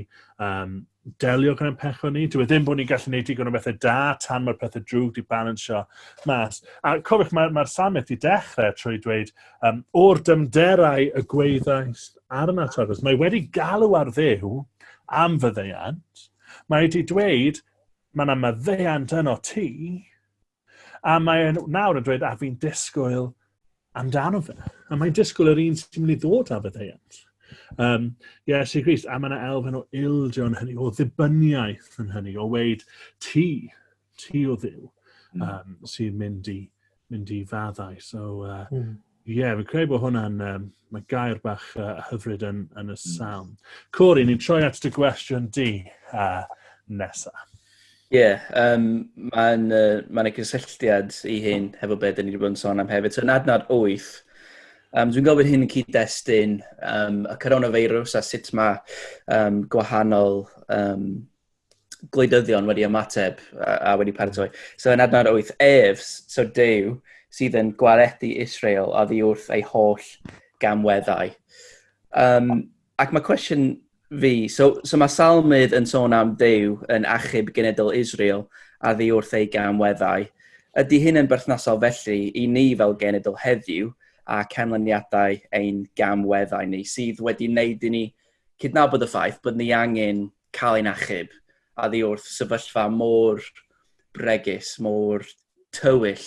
um, delio gyda'n pechod ni. Dwi e ddim bod ni'n gallu gwneud digon o bethau da tan mae'r pethau drwg di balansio mas. A cofiwch, mae'r mae Samet di dechrau trwy dweud, um, o'r dymderau y gweithais ar yna tafod. Mae wedi galw ar ddew am fyddeiant. Mae wedi dweud, mae yna myddeiant yno ti, A mae'n nawr yn dweud, a fi'n disgwyl amdano fe. A mae'n disgwyl yr un sy'n mynd i ddod â fyddeiant. Um, Iesu Grist, a mae yna elfen o ildio yn hynny, o ddibyniaeth yn hynny, o weid ti, ti o ddiw, um, sy'n mynd i, mynd i faddau. So, uh, mm. Ie, yeah, fi'n credu bod hwnna'n, um, mae gair bach uh, hyfryd yn, yn y hmm. salm. Cori, ni'n troi at dy gwestiwn di uh, nesa. Ie, yeah, um, mae'n uh, ma yna cysylltiad i hyn hefo beth dyn ni wedi bod yn sôn am hefyd. So, yn adnod 8, um, dwi'n gofyn hyn yn cyd-destun um, y coronavirus a sut mae um, gwahanol um, gwleidyddion wedi ymateb a, a wedi paratoi. So yn adnod 8, ef, so Dyw, sydd yn gwaredu Israel a ddi wrth ei holl gamweddau. Um, ac mae cwestiwn fi, so, so mae Salmydd yn sôn am Dyw yn achub genedl Israel a ddi wrth ei gamweddau. Ydy hyn yn berthnasol felly i ni fel genedl heddiw a canlyniadau ein gamweddau ni sydd wedi wneud i ni cydnabod y ffaith bod ni angen cael ein achub oddi wrth sefyllfa mor bregus, mor tywyll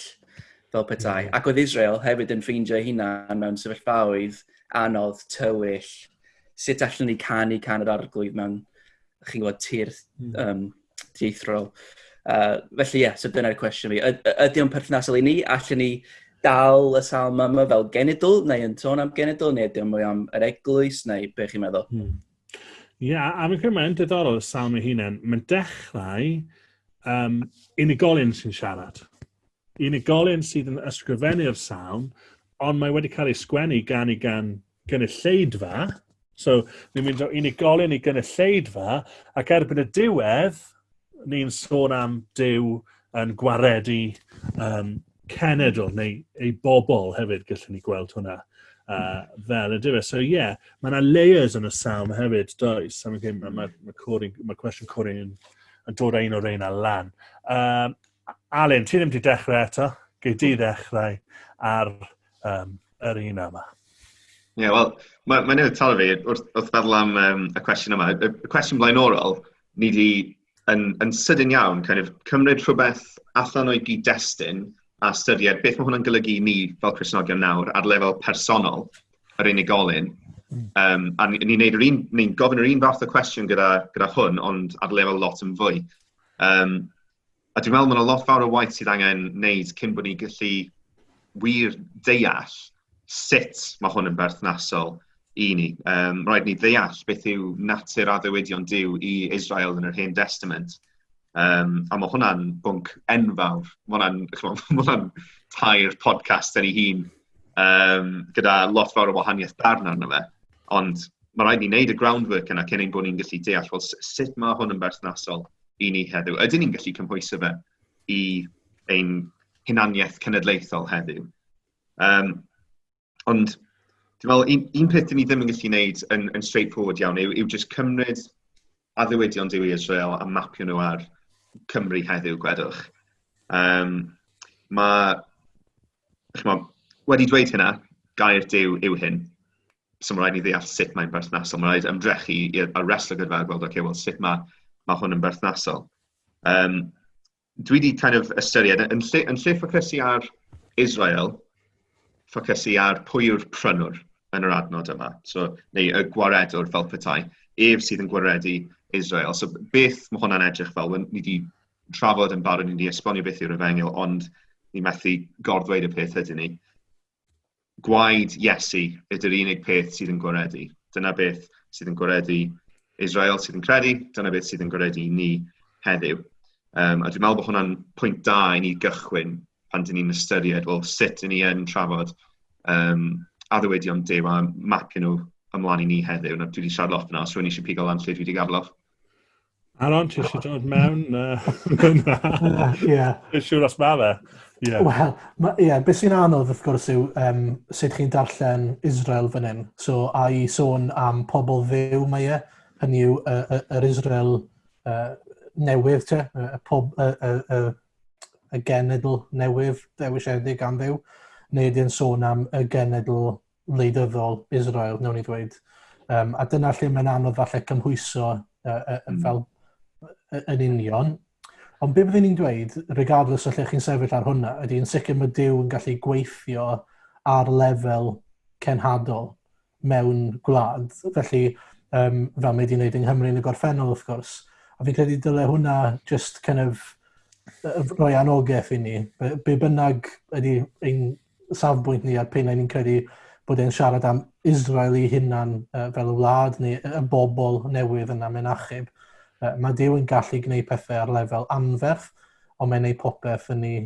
fel petai. Mm. Ac oedd Israel hefyd yn ffeindio hunan mewn sefyllfaoedd anodd, tywyll, sut allan ni canu can yr arglwydd mewn, chi'n gwybod, tir mm. um, dieithrol. Uh, felly ie, yeah, so dyna'r cwestiwn fi. Ydy o'n perthnasol i ni? Allan ni dal y salm yma fel genedl, neu yn tôn am genedl, neu ydy o'n mwy am yr eglwys, neu be chi'n meddwl? Hmm. Ie, a a fi'n credu mae'n diddorol y sawl mae hunain. Mae'n dechrau um, unigolyn sy'n siarad. Unigolyn sydd yn ysgrifennu'r sawl, ond mae wedi cael ei sgwennu gan i gan gynulleidfa. So, ni'n mynd o unigolyn i gynulleidfa, ac erbyn y diwedd, ni'n sôn am Dyw yn gwaredu um, cenedl neu ei bobl hefyd, gallwn ni gweld hwnna uh, fel ydy fe. So ie, yeah, mae yna layers yn y salm hefyd, does? Am hyn, mae, ma, ma, Corey, ma cwestiwn Corey yn, yn dod ein o'r ein a lan. Um, Alun, ti ddim wedi dechrau eto, gei di ddechrau ar um, yr un yma. Ie, yeah, wel, mae'n ma newydd taro fi wrth, wrth feddwl am um, y cwestiwn yma. Y, y cwestiwn blaenorol, ni wedi yn, yn sydyn iawn kind of, cymryd rhywbeth allan o'i gyd-destun a ystyried beth mae hwnna'n golygu ni fel Cresnogion nawr ar lefel personol yr unigolyn. Um, a ni'n ni neud yr un, ni'n gofyn yr un fath o cwestiwn gyda, gyda hwn, ond ar lefel lot yn fwy. Um, A dwi'n meddwl mae yna lot fawr o waith sydd angen wneud cyn bod ni'n gallu wir deall sut mae hwn yn berthnasol i ni. Um, rhaid ni ddeall beth yw natur addewidion Dyw i Israel yn yr Hen Testament. Um, a mae hwnna'n bwnc enfawr. Mae hwnna'n tair podcast yn ei hun um, gyda lot fawr o wahaniaeth darn arno fe. Ond mae rhaid ni wneud y groundwork yna cyn ein bod ni'n gallu deall well, sut mae hwn yn berthnasol i ni heddiw. Ydyn ni'n gallu cymhwyso fe i ein hunaniaeth cenedlaethol heddiw? Um, ond dwi'n meddwl, un, un peth ni ddim yn gallu gwneud yn, yn straightforward iawn yw, yw just cymryd addewidion Dyw i Israel a mapio nhw ar Cymru heddiw, gwedwch. Um, mae, chymod, wedi dweud hynna, gair Dyw yw hyn. so mae'n rhaid ni ddeall sut mae'n berthnasol. Mae'n rhaid ymdrechu i'r wrestler gyda a gweld, okay, well, sut mae, mae hwn yn berthnasol. Um, dwi wedi kind of ystyried, yn lle, yn lle ffocysu ar Israel, ffocysu ar pwy yw'r prynwr yn yr adnod yma, so, neu y gwaredwr fel petai, ef sydd yn gwaredu Israel. So beth mae hwnna'n edrych fel? Ni wedi trafod yn barod, ni wedi esbonio beth yw'r efengyl, ond ni methu gorddweud y peth ydyn ni. gwaed Iesu ydy'r unig peth sydd yn gwaredu. Dyna beth sydd yn gwaredu Israel sydd yn credu, dyna beth sydd yn gwaredu ni heddiw. Um, a dwi'n meddwl bod hwnna'n pwynt da i ni gychwyn pan dyn ni'n ystyried, wel, sut dyn ni yn trafod um, addywedion dew a mapio nhw ymlaen i ni heddiw. Na, dwi wedi siarad lot yna, os rwy'n eisiau pigo lan lle dwi wedi gafloch. Aaron, ti eisiau dod mewn? Ie. Dwi'n siŵr os mae fe. Ie. Wel, ie, beth sy'n anodd wrth gwrs yw um, sut chi'n darllen Israel fan hyn. So, a i sôn am pobl fyw mae e, hynny yw yr Israel uh, newydd, te, y, pob, y, y, y, y genedl newydd dewisiedig am fyw, neu ydy'n sôn am y genedl wleidyddol Israel, newn ni ddweud. Um, a dyna lle mae'n anodd falle cymhwyso uh, uh, mm. fel uh, yn union. Ond be byddwn ni'n dweud, regardless o lle chi'n sefyll ar hwnna, ydy yn sicr mae Dyw yn gallu gweithio ar lefel cenhadol mewn gwlad. Felly, um, fel mae wedi'i wneud yng Nghymru yn y gorffennol, wrth gwrs. A fi'n credu dyle hwnna just kind of roi anogaeth i ni. Be, be bynnag ydy ein safbwynt ni a'r pennau ni'n credu bod e'n siarad am Israel ei hunan uh, fel y wlad neu y bobl newydd yna mewn achub. Uh, mae Dyw yn gallu gwneud pethau ar lefel anferth, ond mae'n ei popeth yn ei,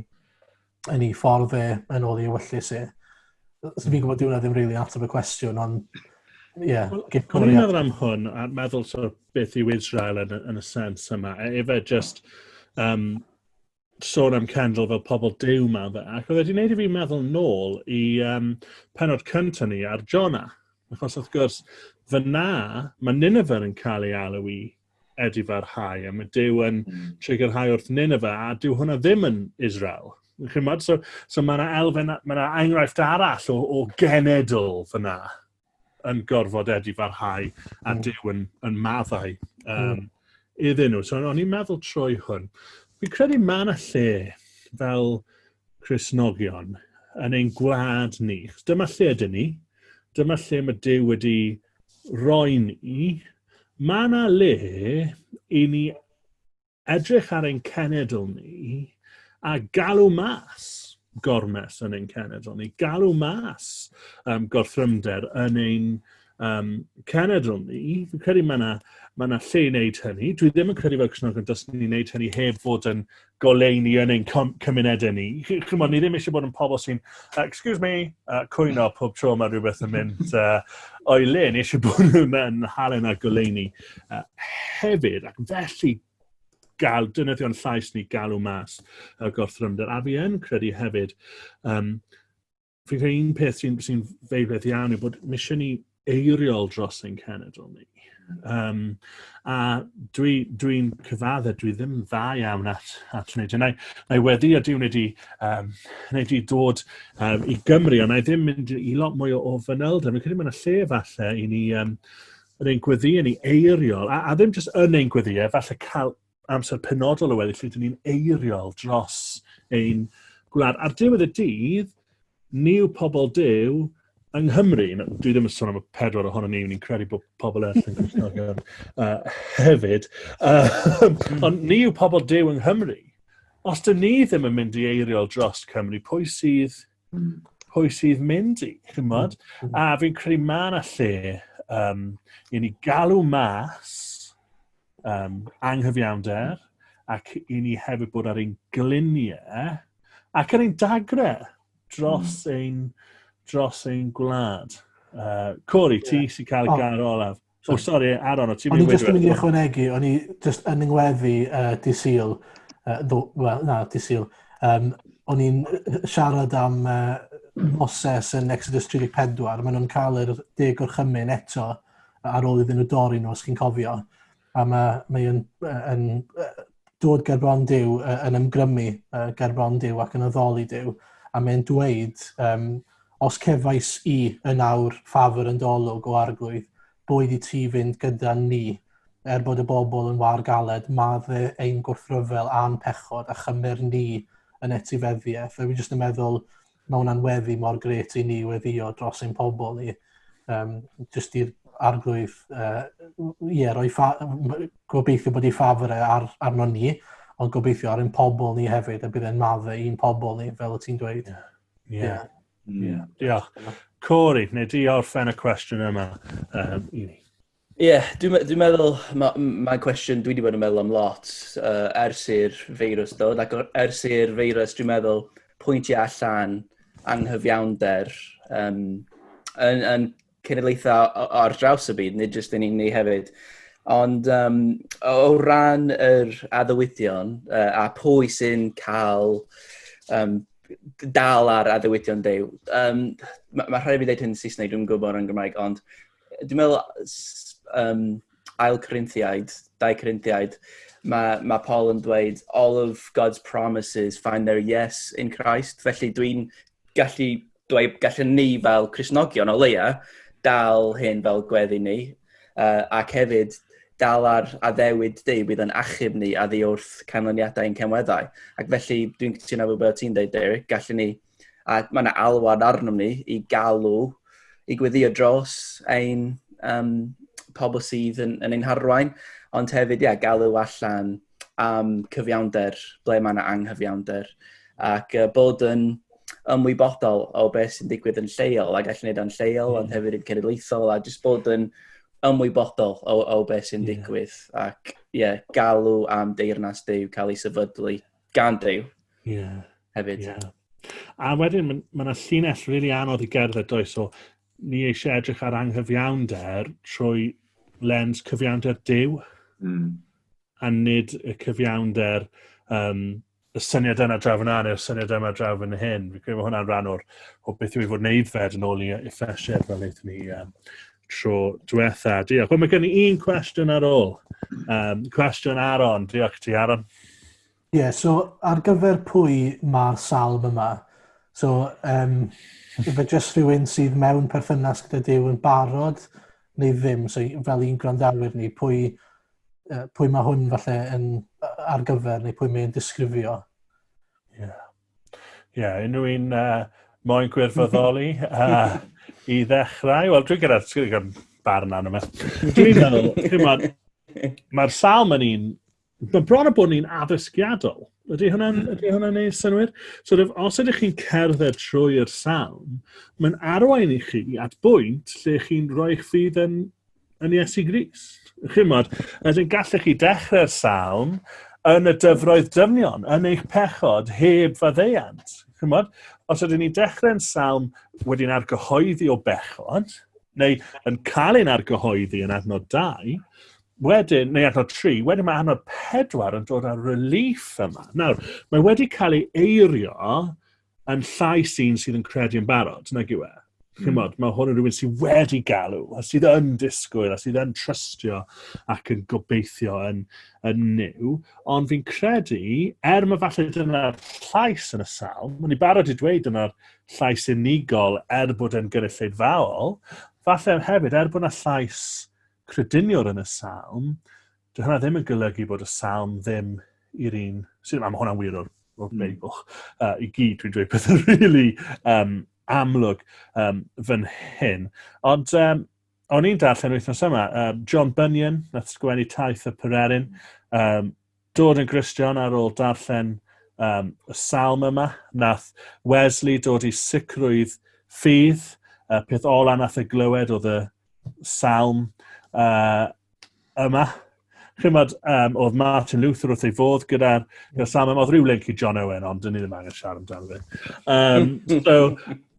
yn ei ffordd fe yn ôl ei wyllus e. So fi'n gwybod diwna ddim rili really ateb y cwestiwn, ond ie. Yeah, O'n i'n meddwl am hwn, a meddwl so beth yw Israel yn, yn y sens yma. E, efe just um, sôn am Kendall fel pobl dew ma fe, ac oedd wedi gwneud i fi meddwl nôl i um, penod cyntaf ni ar Jona. Achos wrth gwrs, fyna mae Nineveh yn cael ei alw i edifarhau, a mae Dyw yn hmm. trigyrhau wrth Nineveh, a dyw hwnna ddim yn Israel. Chymod? So, so mae yna elfen, mae yna enghraifft arall o, o genedl fyna. yn gorfod edifarhau a mm. Dyw yn, yn maddau um, mm. iddyn nhw. So, o'n i'n meddwl trwy hwn. Fi'n credu mae yna lle fel Cresnogion yn ein gwlad ni. Dyma lle ydyn ni. Dyma lle mae Dyw wedi roi ni. Mae yna le i ni edrych ar ein cenedl ni a galw mas gormes yn ein cenedl ni, galw mas um, gorthrymder yn ein um, cenedl ni. Fi'n credu mae yna ma na lle i wneud hynny. Dwi ddim yn credu fel Cwsnogon dys ni'n wneud hynny heb fod yn goleini yn ein cymunedau ni. Chymod, ni ddim eisiau bod yn pobl sy'n, uh, excuse me, uh, cwyno pob tro mae rhywbeth yn mynd uh, o'i le. Ni eisiau bod nhw'n halen a goleini Uh, hefyd, ac felly gael dynyddion llais ni galw mas y gorthrymder. A fi yn credu hefyd, um, fi credu un peth sy'n sy, feiredd iawn yw bod misio ni eiriol dros ein cenedl ni. Um, a dwi'n dwi, dwi cyfadde, dwi ddim yn dda iawn at, at wneud hynny. Na i wedi a diwn wedi, um, wedi dod um, i Gymru, ond na i ddim mynd i lot mwy o, o fanyl. Dwi'n credu mae'n lle falle i ni um, yn ein gweddiau ni eiriol, a, a ddim jyst yn ein gweddiau, falle cael amser penodol o weddi lle dyn ni'n eiriol dros ein gwlad. Ar diwedd y dydd, ni yw pobl dew yng Nghymru, dwi ddim yn sôn am y pedwar ohono ni, ni'n credu bod pobl eraill yn Gristnogion uh, hefyd, uh, ond ni yw pobl dew yng Nghymru. Os dyn ni ddim yn mynd i eiriol dros Cymru, pwy sydd Mm. Pwy sydd mynd i, chymod? Mm. A fi'n credu ma yna lle um, i ni galw mas um, anghyfiawnder ac i ni hefyd bod ar ein gliniau ac ar ein dagre dros mm. ein, dros ein gwlad. Uh, Cori, yeah. ti sy'n cael y yeah. gair olaf. O, sori, Aaron, o ti'n mynd i wedi... O'n i just yn mynd i ychwanegu, o'n i just yn yngweddi uh, disil, uh, ddo, well, na, disil, um, o'n i'n siarad am uh, Moses yn Exodus 34, maen nhw'n cael yr deg o'r chymyn eto ar ôl iddyn nhw dorri nhw, os chi'n cofio. A mae, mae yn, yn, dod ger bron Duw, uh, yn ymgrymu uh, ger bron Duw ac yn addoli Duw, a mae'n dweud, um, os cefais i yn awr ffafr yn dolwg o arglwydd, boed i ti fynd gyda ni, er bod y bobl yn war galed, madde ein gwrthryfel a'n pechod, a chymmer ni yn etifeddiaeth. Fe fi jyst yn meddwl, Mae hwnna'n weddi mor gret i ni weddio dros ein pobl ni. Um, just i'r arglwydd, uh, yeah, roi ffa, gobeithio bod ei ffafr e ar, arno ni, ond gobeithio ar ein pobl ni hefyd, a bydd e'n madde i'n pobl ni, fel y ti'n dweud. Yeah. Yeah. yeah. Mm. yeah. Diolch. Corey, neu di orffen y cwestiwn yma um, i ni. Ie, dwi'n me- dwi'n meddwl ma- m- mae'n cwestiwn dwi 'di bod yn meddwl am lot yy ers i'r feirws dod ac o- ers i'r feirws dwi'n meddwl pwyntio allan anghyfiawnder yym yn yn cenedlaethau o- o- ar draws y byd, nid jyst yn un ni hefyd. Ond yym o o ran yr addewidion yy a pwy sy'n cael yym d- dal ar addewidion Duw yym ma' ma' rhaid i fi ddeud hyn yn Saesneg, dwi'm yn gwybod yn Gymraeg ond dwi'n meddwl, um, ail Corinthiaid, dau Corinthiaid, mae, mae Paul yn dweud, all of God's promises find their yes in Christ. Felly dwi'n gallu dweud, gallen ni fel Cresnogion o leia, dal hyn fel gweddi ni, uh, ac hefyd dal ar addewid dy bydd yn achub ni a ddi wrth canlyniadau ein cymweddau. Ac felly, dwi'n cytuno efo beth ti'n dweud, Derek, gallen ni a mae yna alwad arnom ni i galw i gweddio dros ein um, pobl sydd yn, yn ein harwain, ond hefyd, ia, galw allan am cyfiawnder, ble mae yna anghyfiawnder, ac uh, bod yn ymwybodol o beth sy'n digwydd yn lleol, a gallu gwneud o'n lleol, ond hmm. hefyd yn cenedlaethol, a jyst bod yn ymwybodol o, o beth sy'n digwydd, yeah. ac ie, yeah, galw am deyrnas dew cael ei sefydlu gan Dave. Yeah. Hefyd. Yeah. A wedyn, mae ma yna llinell rili really anodd i gerdded does, so ni eisiau edrych ar anghyfiawnder trwy lens cyfiawnder dew, mm. a nid y cyfiawnder um, y syniad yna draw yna neu'r syniad yma draw yn hyn. Fi'n credu bod hwnna'n rhan o'r, o beth yw i fod yn eiddfed yn ôl i effesiad fel eithon ni um, tro diwetha. Diolch. Wel, mae gen i un cwestiwn ar ôl. Um, cwestiwn Aaron. Diolch ti, Aaron. Ie, yeah, so ar gyfer pwy mae'r salm yma? So, um, fe jyst rhywun sydd mewn perthynas gyda Dyw yn barod neu ddim, so fel un gwrandawyr ni, pwy, uh, pwy mae hwn falle yn ar gyfer neu pwy mae'n disgrifio? Ie. Yeah. Ie, yeah, unrhyw un uh, moyn gwirfoddoli uh, i ddechrau? Wel, dwi'n gyda'r gyda barn arno fe. Dwi'n meddwl, dwi'n meddwl, mae'r salm yn un, mae bron o bod yn un addysgiadol. Ydy hwnna'n hmm. ydy hwnna neud synwyr? Sort of, os ydych chi'n cerdded trwy'r salm, mae'n arwain i chi at bwynt lle chi'n rhoi eich ffydd yn yn Iesu Grist. Chymod, ydyn gallech chi dechrau'r salm yn y dyfroedd dyfnion, yn eich pechod heb faddeuant. Chymod, os ydyn ni dechrau'n salm wedi'n argyhoeddi o bechod, neu yn cael ein argyhoeddi yn adnod 2, wedyn, neu adnod 3, wedyn mae adnod 4 yn dod â'r relief yma. Nawr, mae wedi cael ei eirio yn llais un sydd yn credu yn barod, nag yw e. Mm. Chymod, mae hwn yn rhywun sydd wedi galw, a sydd yn disgwyl, a sydd yn trystio ac yn gobeithio yn, yn new. Ond fi'n credu, er mae falle dyna'r llais yn y salm, mae'n i barod i dweud dyna'r llais unigol er bod e'n gynulleidfaol, falle hefyd, er bod yna llais crediniwr yn y salm, Dyw hynna ddim yn golygu bod y salm ddim i'r un sydd yma. Mae hwnna'n wir o'r, or mm. Beibl. Uh, I gyd, dwi'n dweud pethau rili really, um, amlwg um, fan hyn. Ond um, o'n i'n darllen wythnos yma, um, John Bunyan, nath sgwennu taith y pererin, um, dod yn Gristion ar ôl darllen um, y salm yma, nath Wesley dod i sicrwydd ffydd, y peth ola nath y glywed oedd y salm uh, yma. Chymod, um, oedd Martin Luther wrth ei fodd gyda'r gyda salm yma. Oedd rhyw link i John Owen, ond dyn ni ddim angen siarad amdano fe. Um, so,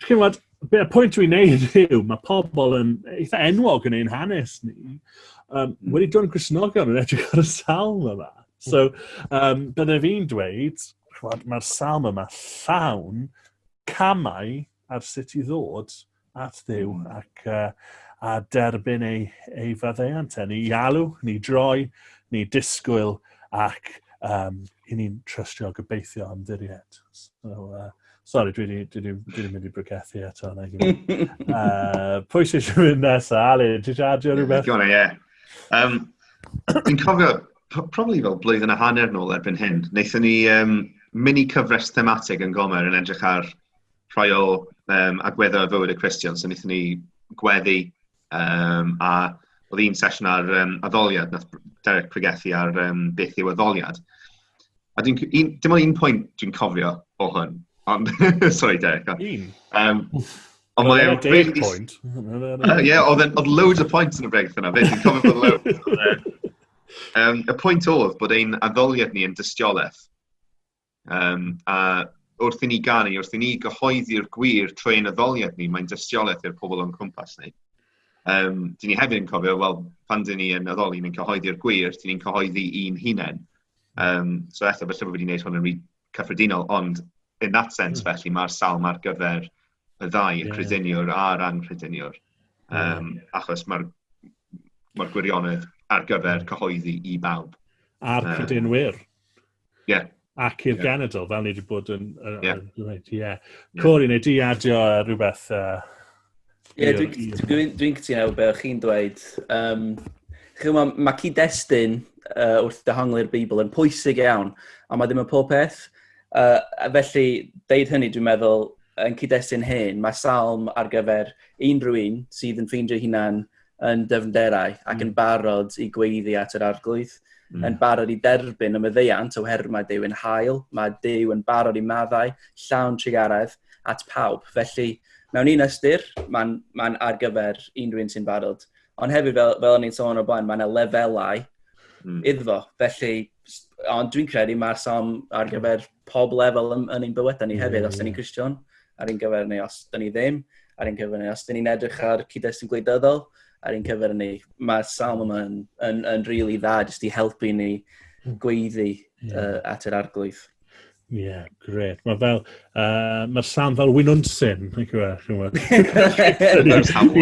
chymod, y pwynt dwi'n neud yw, mae pobl yn eitha enwog yn ein hanes ni. Um, wedi dod yn Grisnogion yn edrych ar y salm yma. So, um, bydde fi'n dweud, mae'r salm yma llawn camau ar sut i ddod at ddiw mm. ac uh, a derbyn ei, ei faddeuant. E. Ni alw, ni droi, ni disgwyl ac um, i ni'n trystio gobeithio am ddiried. So, uh, sorry, dwi wedi mynd i brygethu eto. uh, pwy sy'n eisiau mynd nesaf? Ali, ti'n eisiau adio rhywbeth? Gwna, ie. Um, Dwi'n cofio, probably fel blwyddyn a hanner nôl erbyn hyn, wnaethon ni um, mini cyfres thematig yn Gomer yn edrych ar rhai o um, agweddau o fywyd y Cristion, so wnaethon ni gweddi um, a oedd un sesiwn ar um, addoliad, nath Derek pregethu ar um, beth yw addoliad. A dwi'n, un, dim ond un pwynt dwi'n cofio o hwn, ond, sorry Derek. Un? Um, ond mae e'n really... Point. uh, yeah, oedd, oedd loads o pwynt yn y bregaeth yna, fe, dwi'n cofio bod loads. um, y pwynt oedd bod ein addoliad ni yn dystiolaeth. Yym a wrth i ni ganu, wrth i ni gyhoeddi'r gwir trwy ein addoliad ni, mae'n dystiolaeth i'r pobl o'n cwmpas ni. Um, dyn ni hefyd yn cofio, wel, pan dyn ni yn addoli, ni'n cyhoeddi'r gwir, dyn ni'n cyhoeddi un hunain. Um, so eto, felly bod wedi gwneud hwn yn rhy cyffredinol, ond in that sense, mm. felly, mae'r salm ar gyfer y ddau, y yeah. crediniwr a'r anghrediniwr. Um, yeah. Achos mae'r ma gwirionedd ar gyfer cyhoeddi i bawb. A'r credinwyr. Um, Yeah. Ac i'r yeah. genedl, fel ni wedi bod yn... yn yeah. Yn, yeah. Corey, neu di adio rhywbeth... Uh, Ie, yeah, dwi'n dwi, dwi cytuno be o'ch chi'n dweud. Um, Chymwa, mae cyd-destun uh, wrth dehongli'r Beibl yn pwysig iawn, ond mae ddim yn pob peth. Uh, felly, deud hynny, dwi'n meddwl, yn cyd-destun hyn, mae salm ar gyfer unrhyw un sydd yn ffeindio hunan yn dyfnderau ac mm. yn barod i gweiddi at yr arglwydd, mm. yn barod i derbyn y myddeiant o her mae Dyw yn hael, mae Dyw yn barod i maddau, llawn trugaredd at pawb. Felly, mewn un ystyr, mae'n ma ar gyfer unrhyw un sy'n barod. Ond hefyd, fel, fel o'n i'n sôn o'r blaen, mae yna lefelau mm. iddo. Felly, ond dwi'n credu mae'r som ar gyfer pob lefel yn, yn ein bywydau ni yeah, hefyd, os yeah. da ni'n Christian, ar ein gyfer ni, os da ni ddim, ar ein cyfer ni, os da ni'n edrych ar cyd-destun gwleidyddol, ar ein cyfer ni. Mae'r salm yma yn, yn, yn rili really dda, jyst i helpu ni hmm. gweiddi yeah. uh, at yr arglwydd. Ie, yeah, gret. Mae fel, uh, mae'r sam fel wynunsyn, yn chi'n gwybod, chi'n gwybod.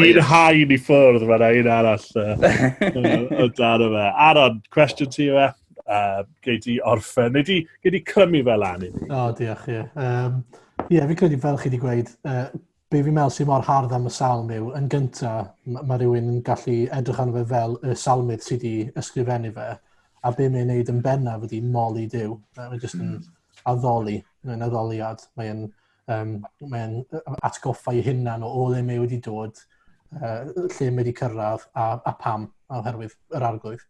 I'n hain i ffwrdd, mae'n ein arall uh, o dan yma. Aaron, cwestiwn ti yma? uh, gei di orffen, neu di, gei di clymu fel lan i ni. O, oh, diolch, ie. Yeah. Um, yeah, fi credu fel chi wedi gweud, uh, be fi'n meddwl sy'n mor hardd am y salm yw, yn gyntaf, mae ma rhywun yn gallu edrych arno fe fel y salmydd sydd wedi ysgrifennu fe, a be mae'n neud yn bennaf ydy moli Dyw. Mae'n jyst yn hmm. addoli, mae'n addoliad, mae'n Um, mae'n atgoffa i hunan o ole mae wedi dod, uh, lle mae wedi cyrraedd a, a pam, a oherwydd yr arglwydd.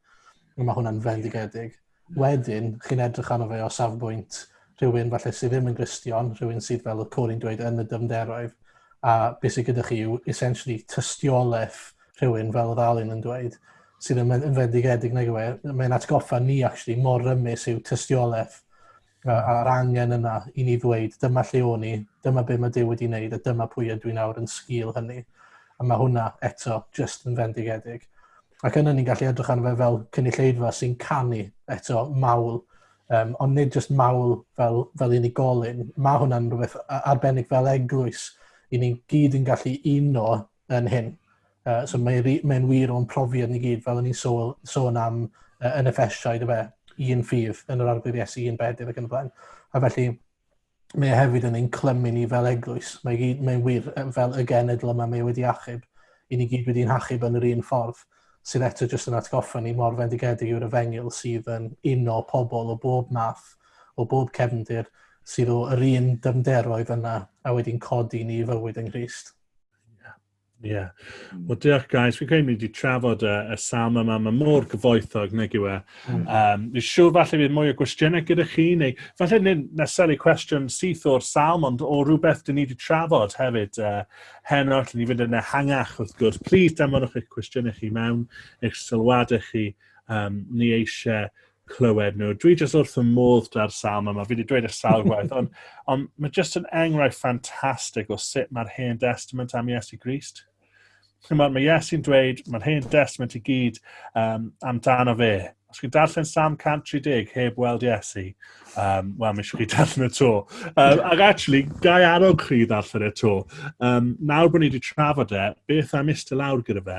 Mae hwnna'n fendigedig. Wedyn, chi'n edrych arno fe o safbwynt rhywun falle sydd ddim yn gristion, rhywun sydd fel y Corin dweud yn y dymderoedd, a beth sydd gyda chi yw essentially tystiolaeth rhywun fel oedd Alun yn dweud, sydd yn, yn fendigedig nag yw e, mae'n atgoffa ni actually mor rymus yw tystiolaeth a'r angen yna i ni ddweud dyma lle o'n i, dyma be mae Duw wedi wneud a dyma pwy ydw i nawr yn sgil hynny. A mae hwnna eto just yn fendigedig. Ac yna ni'n gallu edrych arno fe fel cynulleidfa sy'n canu eto mawl, um, ond nid just mawl fel, fel unigolyn. Mae hwnna'n rhywbeth arbennig fel eglwys. I ni'n gyd yn gallu uno yn hyn. Uh, so mae'n mae wir o'n profiad ni gyd, fel o'n i'n sôn, sôn am uh, yn y ffesiau, dyfa, un ffydd yn yr arglwydd Iesu, un bedydd ac yn y blaen. A felly, mae e hefyd yn ein clymu ni fel eglwys. Mae'n gyd, mae wir fel y genedl yma mae e wedi achub. I ni gyd wedi'n hachub yn yr un ffordd sydd eto jyst yn atgoffa ni mor fendigedig yw'r efengil sydd yn uno pobl o bob math, o bob cefndir, sydd o'r un dyfnderoedd yna a wedi'n codi ni i fywyd yng Nghyst. Ie. Yeah. Hmm. Wel, diolch, guys. Fi'n credu ni wedi trafod y, y sam yma. Mae mor gyfoethog, nag yw e. Um, hmm. fi siŵr falle bydd mwy o gwestiynau gyda chi, neu falle nid neseli cwestiwn syth o'r sam, ond o rhywbeth dyn ni wedi trafod hefyd uh, heno, lle ni fynd yn ehangach, wrth gwrs. Plis, danfonwch eich cwestiynau chi mewn, eich sylwadau chi. Um, ni eisiau clywed nhw. Dwi jyst wrth y modd da'r salm yma, fi wedi dweud y sawl gwaith, ond, on, mae jyst yn enghraifft ffantastig o sut mae'r hen testament am Iesu Grist. Mae, mae Iesu'n dweud, mae'r hen testament i gyd um, amdano fe. Os chi'n darllen Sam 130 heb weld Iesu, um, wel, mae eisiau chi darllen y to. Um, ac actually, gai arog chi ddarllen y to. Um, nawr bod ni wedi trafod e, beth am istedd lawr gyda fe,